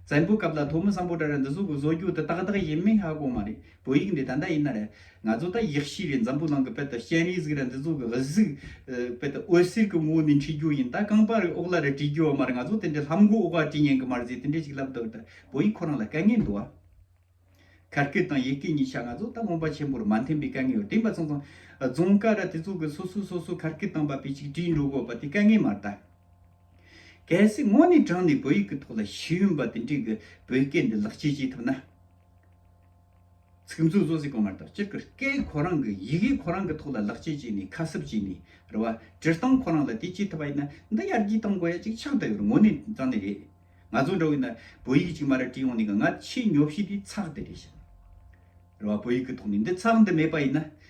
བཙན་པོའི་སྐབས་ལ་ཐོག་མི་བཟང་པོ་འདྲ་ར་འདི་ཚོ་གི་བཟོ་རྒྱུ་དེ་ཏག་ཏག་ཡིན་མིན་ཧ་གོ་མ་རེད་བོད་ཡིག་འདི་ད་ལྟ་ཡིན་ན་རེད། ང་ཚོ་ད་ཡིག་གཤིས་རེད་འཛམ་བུ་གླིང་གི་དཔལ་དུ་ཤན་རིའི་གཟིགས་རེད་འདི་ཚོ་གི་གཟིགས་དཔལ་དུ་འོད་ཟེར་གི་ངོ་བོ་ནས་འཁྲིད་རྒྱུ་ཡིན་ད་རྐང་པ་རེ་དབུགས་ལ་རེ་བྲིས་རྒྱུ་བ་མ་རེད་ང་ཚོ་དེ་འདྲའི་ལྷམ་གོག་དབུགས་ལ་བྲིས་ཉན་གི་མ་རེད་ཟེར་དེ་འདྲའི་ཞིག་ལབ་འདུག་ད་བོད་ཡིག་ཁོ་རང་ལ་དཀའ་ངལ་འདུག་ཨ། གར་སྐད་དང་ཡེ་སྐད་གཉིས་ཆ་ང་ཚོ་ད་རྔོན་པ་ཆེན་པོར་མ་འཐེན་པའི་དཀའ་ངལ་ཡོད་དེ་འབའ་ཚང་ཚང་རྫོང་དཀར་ར་དེ་ཚོ་གི་སོ་སོས་སོ་སོའི་གར་སྐད་དང་འབའ་པའི་ཅིག་བྲིས་འགྲོ་དགོས་པ་དེ་དཀའ་ངལ་མ་རེད་ད། གལ་སྲིད་དངོས་གནས་དྲངས་ནས་བོད་ཡིག་གི་ཐོག་ལ་ཤེས་ཡོན་པ་དེ་འདྲས་གི་བོད་སྐད་འདི་ལག་ཁྱེར་བྱེད་ཐུབ་ན། ཚིག་མཛོད་བཟོ་སའི་གོང་མ་ལྟར་སྤྱིར་ཀུ་ཀའི་གོ་རང་གི་ཡི་གེའི་གོ་རང་གི་ཐོག་ལ་ལག་ཆས་བྱས་ནས་ཁ་གསབ་བྱས་ནས་རེད་བ། སྤྱིར་བཏང་ཁོ་རང་ལ་དེ་བྱེད་ཐུབ་པ་ཡིན་ན་འདི་ཡར་རྒྱས་གཏང་དགོས་ཡ་གཅིག་ཆགས་ད་ཡོད་རེད་ངོ་ནས་ཙང་ནི་རེད། ང་ཚོ་འདྲ་བོ་ཡིན་ན་བོད་ཡིག་གཅིག་མ་རེད་བྲིས་ཡོང་ནས་ང་ཆེས་ཉོབ་ཤེས་དེ་ཚགས་དེ་རེད་བཤད། རེད་བ་བོད་ཡིག་གི་ཐོག་ནས་འདི་ཚགས་འདི་མེད་པ་ཡིན་ན་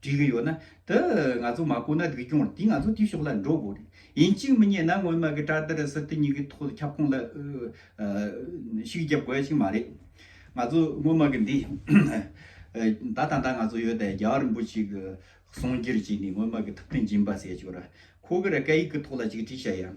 བྲིས་ཀྱི་ཡོད་ན། དེ་ང་ཚོ་མ་བཀོད་ན་དགེ་སྐྱོང་རེད་དེ་ང་ཚོ་དེའི་ཕྱོགས་ལ་འགྲོ་དགོས་རེད། ཡིན་གཅིག་མི་རྙེད་ན་སྔོན་མ་གི་བཀྲ་དར་སི་ཏི་གཉིས་ཀྱི་ཐོག་ལ་ཁྱབ་ཁོངས་ལ་ཤིག་རྒྱབ་དགོས་ཡ་ཞིག་མ་རེད། ང་ཚོ་སྔོན་མ་གི་འདི། ད་ད་ད་ང་ཚོ་ཡོད་ད་རྒྱ་གར་རིན་པོ་ཆེ་གི་གསུང་རྒྱུར་བྱས་ནས་སྔོན་མ་གི་ཐུབ་བསྟན་སྦྱིན་པ་ཟེར་ཡ་ཆོག་ར། ཁོ་གི་ར་སྐད་ཡིག་གི་ཐོག་ལ་ཅིག་བྲིས་བྱ་ཡ།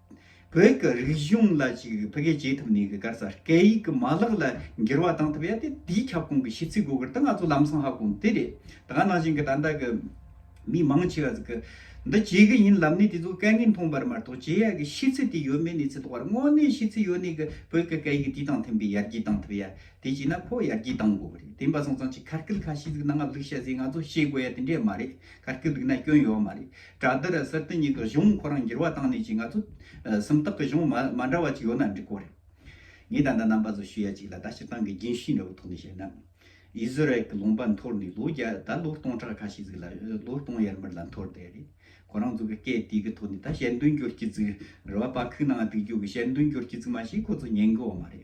བོད་ཀྱི་རིག་གཞུང་ལ་ཅིག་རིག་ཕལ་སྐད་བྱེད་ཐུབ་ནས་ག་ས་སྐད་ཡིག་གི་མ་ལག་ལ་འགྱུར་བ་བཏང་ཐུབ་ཡ་དེ་དེའི་ཁྱབ་ཁོངས་ཀྱི་ཤིས་ཚིག་གོ་གིར་ཏི་ང་ཚོ་ལམ་སང་ཧ་གོ་འདི་རེད་ད་ག་ནང་བཞིན་གི་ད་ལྟ་གི་མི་མང་ཆེ་བ་ཟིག་གི་འདི་བྱེད་གི་ཡིན་ལབ་ནས་དེ་ཚོ་སྐད་ངན་མཐོང་བར་མ་གཏོགས་བྱེད་ཡ་གི་ཤིས་ཚིག་དེ་ཡོད་མེད་ནས་ཚིག་ཐོག་བར་དངོས་གནས་ཤིས་ཚིག་ཡོད་ནས་གི་བོད་ཀྱི་སྐད་ཡིག་དེ་དང་མཐུན་པའི་ཡར་རྒྱས་བཏང་ཐུབ་ཡ་དེ་བྱས་ན་ཁོ་ཡར་རྒྱས་བཏང་དགོ་གི་རེད་དེ་འབའ་སང་ཙང་ཅིག་ཁ་སྐད་ཁ་ཤིས་ཟིག་ནང་ང་ལུག་བཤད་ཟིག་ང་ཚོ་ཤེས་དགོ་ཡ་དེ་འདྲས་མ་རེད་ག་རེ་འདུག་ན་སྐྱོན་ཡོད་མ་རེད། དྲ་རྡི་ར་གསར་རྟེན་གཉིས་ཀྱི་གཞུང་ཁོ་རང་འགྱུར་བ་བཏང་ནས་ཀྱི་ང་ཚོ་སུམ་རྟགས་ཀྱི་གཞུང་མ་འདྲ་བ་ཅིག་ཡོད་ན་འགྲིག་གོ་རེད། ངས་ད་ལྟ་རྣམ་པ་ཚོ་ཞུ་ཡ་ཅིག་ལ་ད་སྤྱིར་བཏང་གི་རྒྱུན་ཤེས་འདྲ་བོ་ཐོག་ནས་བཤད་ན། ཨི་ཟི་རལ་གྱི་ལུང་པ་འཐོར་ནས་ལོ་བརྒྱ་ད་ལོ་སྟོང་ཕྲག་ཁ་ཤས་ཟིག་ལ་ལོ་སྟོང་ཡར་མར་ལ་འཐོར་བསྡད་རེད། ཁོ་རང་ཚོ་གི་སྐད་དེ་གི་ཐོག་ནས་ད་ཞལ་འདོན་རྒྱོར་གྱི་ཚིག་རེ་བ་པ་ཁུག་ནང་ང་སྡུག་རྒྱུག་གི་ཞལ་འདོན་རྒྱོར་གྱི་ཚིག་མ་ཞིག་ཁོ་ཚོ་ཉན་གི་འོ་མ་རེད།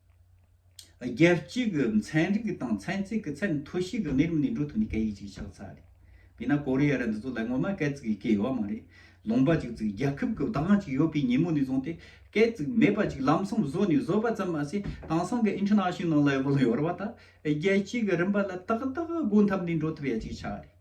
རྒྱལ་སྤྱིའི་གི་ཚན་རིག་དང་ཚན་རྩིས་ཀྱི་ཚད་མཐོ་ཤོས་ཀྱི་གནས་རིམ་ནས་འགྲོ་ཐུབ་ནི་སྐད་ཡིག་ཅིག་ཆགས་ཚར་རེད། དེས་ན་ཀོ་རི་ཡ་ར་འདི་ཚོ་ལ་ངོ་མ་སྐད་ཙིག་གི་སྐད་ཡོད་བ་མ་རེད། ལུང་པ་ཅིག་ཙིག་རྒྱལ་ཁབ་ཀྱི་བདག་དབང་ཅིག་ཡོད་པའི་ཉིན་མོ་ནས་བཟུང་སྟེ་སྐད་ཙིག་མེད་པ་ཅིག་ལམ་སང་བཟོས་ནས་བཟོས་པ་ཙམ་མ་ཟད་དེང་སང་གི International Level ཡོད་བ་དག་རྒྱལ་སྤྱིའི་གི་རིམ་པ་ལ་ཏག་ཏག་སྒོ་འཐམ་ནས་འགྲོ་ཐུབ་ཡ་ཅིག་ཆགས་རེད།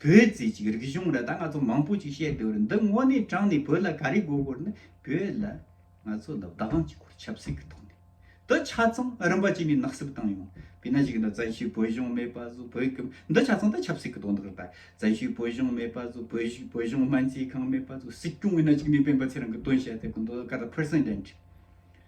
བོད་ཟེར་ཅིག་རིག་གཞུང་ར་ད་ང་ཚོ་མང་པོ་ཅིག་བཤད་འདོད་རེད་འདི་དངོས་གནས་དྲང་ནས་བོད་ལ་ག་རེ་དགོས་དགོས་རེད་ན་བོད་ལ་ང་ཚོ་ལ་བདག་དབང་བྱེད་སྐོར་ཆབ་སྲིད་ཀྱི་ཐོག་ནས་འདི་ཆ་ཚང་རིམ་པ་ཅིག་ནས་ནག་སེབ་བཏང་ཡོང་བས་ན་ཞིག་ན་བཙན་ཤུལ་བོད་གཞུང་མེད་པ་བཟོ་བོད་ཀྱི་འདི་ཆ་ཚང་འདི་ཆབ་སྲིད་ཀྱི་དོན་དག་རེད་པ་བཙན་ཤུལ་བོད་གཞུང་མེད་པ་བཟོ་བོད་བཞུགས་བོད་གཞུང་སྨན་རྩིས་ཁང་མེད་པ་བཟོ་སྲིད་སྐྱོང་བས་ན་ཅིག་ནས་སྤེན་པ་ཚེ་རིང་གི་དོན་བཤད་ཚད་ཀྱི་འདོད་ག་རེ president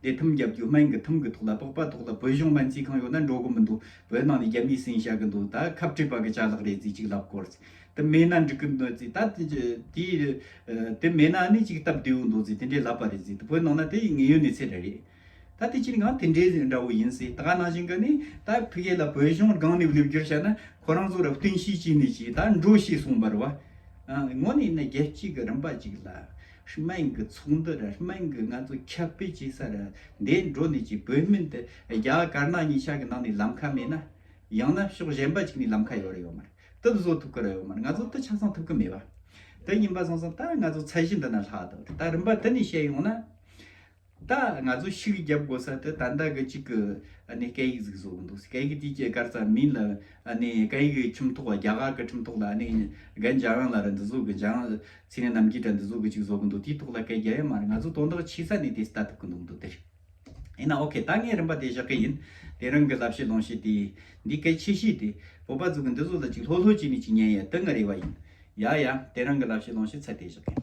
དེ་ཐུམ་རྒྱབ་རྒྱུ་སྨན་གྱི་ཐུམ་གྱི་ཐོག་ལ་ལྤགས་པ་ཐོག་ལ་བོད་གཞུང་སྨན་རྩིས་ཁང་ཡོད་ན་འགྲོ་གི་མི་འདུག་བོད་ནང་ནས་རྒྱ་མིའི་སྲིང་བྱ་གི་འདུག་ད་ཁབ་སྤྲད་པ་གི་ཆ་ལག་རེད་རྩིས་ཅིག་ལབ་དགོར་རྩིས་དེ་མེད་ན་འགྲིག་གི་འདུག་རྩིས་ད་དེ་མེད་ན་ནི་གཅིག་སྟབས་བདེ་བོ་འདུག་རྩིས་དེ་འདྲས་ལབ་པ་རེད་རྩིས་དེ་བོད་ནང་ན་དེ་ངེས་ཡོད་ནི་ཚད་རེད་ད་དེ་ཅིན་གང་དེ་འདྲས་འདྲ་བོ་ཡིན་རྩིས་ད་ནང་བཞིན་གི་ནི་ད་ཕི་ཁེ་ལ་བོད་གཞུང་སྒང་ནས་སླེབ་རྒྱུར་བྱ་ན་ཁོ་རང་ཚོ་ར་བསྟུན་ཤེས་ཀྱི་ནི་ཅིག་ད་འགྲོ་ཤེས་གསུངས་པར་བ་ངོ་ནས་ནི་རྒྱལ་སྤྱི་གི་རིམ་པ་ཅིག་ལ། སྨན་གྱི་ཚོགས་འདུ་རེར་སྨན་གྱི་ངལ་རྩོལ་ཁྱབ་སྤེལ་བྱེད་ས་རེ་འདས་འགྲོ་ནས་ཀྱི་བོད་སྨན་དེ་རྒྱ་གར་དཀར་ནག་གཉིས་ཆ་གི་ནང་ནས་ལམ་ཁ་མེད་ན། ཡང་ན་ཕྱོགས་གཞན་པ་གཅིག་ནས་ལམ་ཁ་ཡོད་རེ་ཡོད་མ་རེད་དེ་བཟོ་ཐུབ་ཀི་རེ་ཡོད་མ་རེད་ང་ཚོ་དེ་ཆ་ཚང་ཐུབ་ཀི་མེད་པ་དེ་ཡིན་པ་སོང་སོང་ད་ང་ཚོ་ཚད་གཞི་འདི་ན་ལྷག་འདུག་ད་རིམ་པ་དེ་ནས་བཤད་ཡོང་ན། ད་ང་ཚོ་ཤི་གི་རྒྱབ་དགོ་ས་དེ་ད་ལྟ་གི་ཅིག་གི་ཨ་ནེ་སྐད་ཡིག་ཟིག་བཟོ་གི་འདུག་སེ་སྐད་ཡིག་དེ་ཀྱི་སྐར་རྩ་མིན་ལ་ཨ་ནེ་སྐད་ཡིག་གི་ཁྱིམ་ཐོག་རྒྱ་གར་གི་ཁྲིམས་ཐོག་ལ་ཨ་ནེ་རྒན་རྒྱ་རང་ལ་རེད་འདི་བཟོ་གི་རྒྱ་རང་ཚེ་ནི་རྣམ་རྒྱལ་དྲ་འདི་བཟོ་གི་ཅིག་བཟོ་གི་འདུག་དེའི་ཐོག་ལ་སྐད་རྒྱ་ཡ་མ་རེད་ང་ཚོ་དོན་དག་ཆི་ས་ནས་དེ་ལྟ་ཐུབ་གི་འདུག་འདུག་དེ་ཡིན་ན་ཨོ་ཁེ་ད་ངས་རིན་པ་དེ་བཞག་གི་ཡིན་དེ་རང་གི་ལབ་བཤད་ལོང་བཤད་དེ་འདི་སྐད་ཆེ་བཤད་དེ་བོད་པ་ཚོ་གི་འདི་བཟོ་ལ་ཅིག་ལྷོད་ལྷོད་ཅིག་ནས་ཅིག་ཉན་ཡ་དེ་ང་རེ་བ་ཡིན་ཡ་ཡ་དེ་རང་གི་ལབ་བཤད་ལོང་བཤད་ཚད་དེ་བཞག་གི་ཡིན།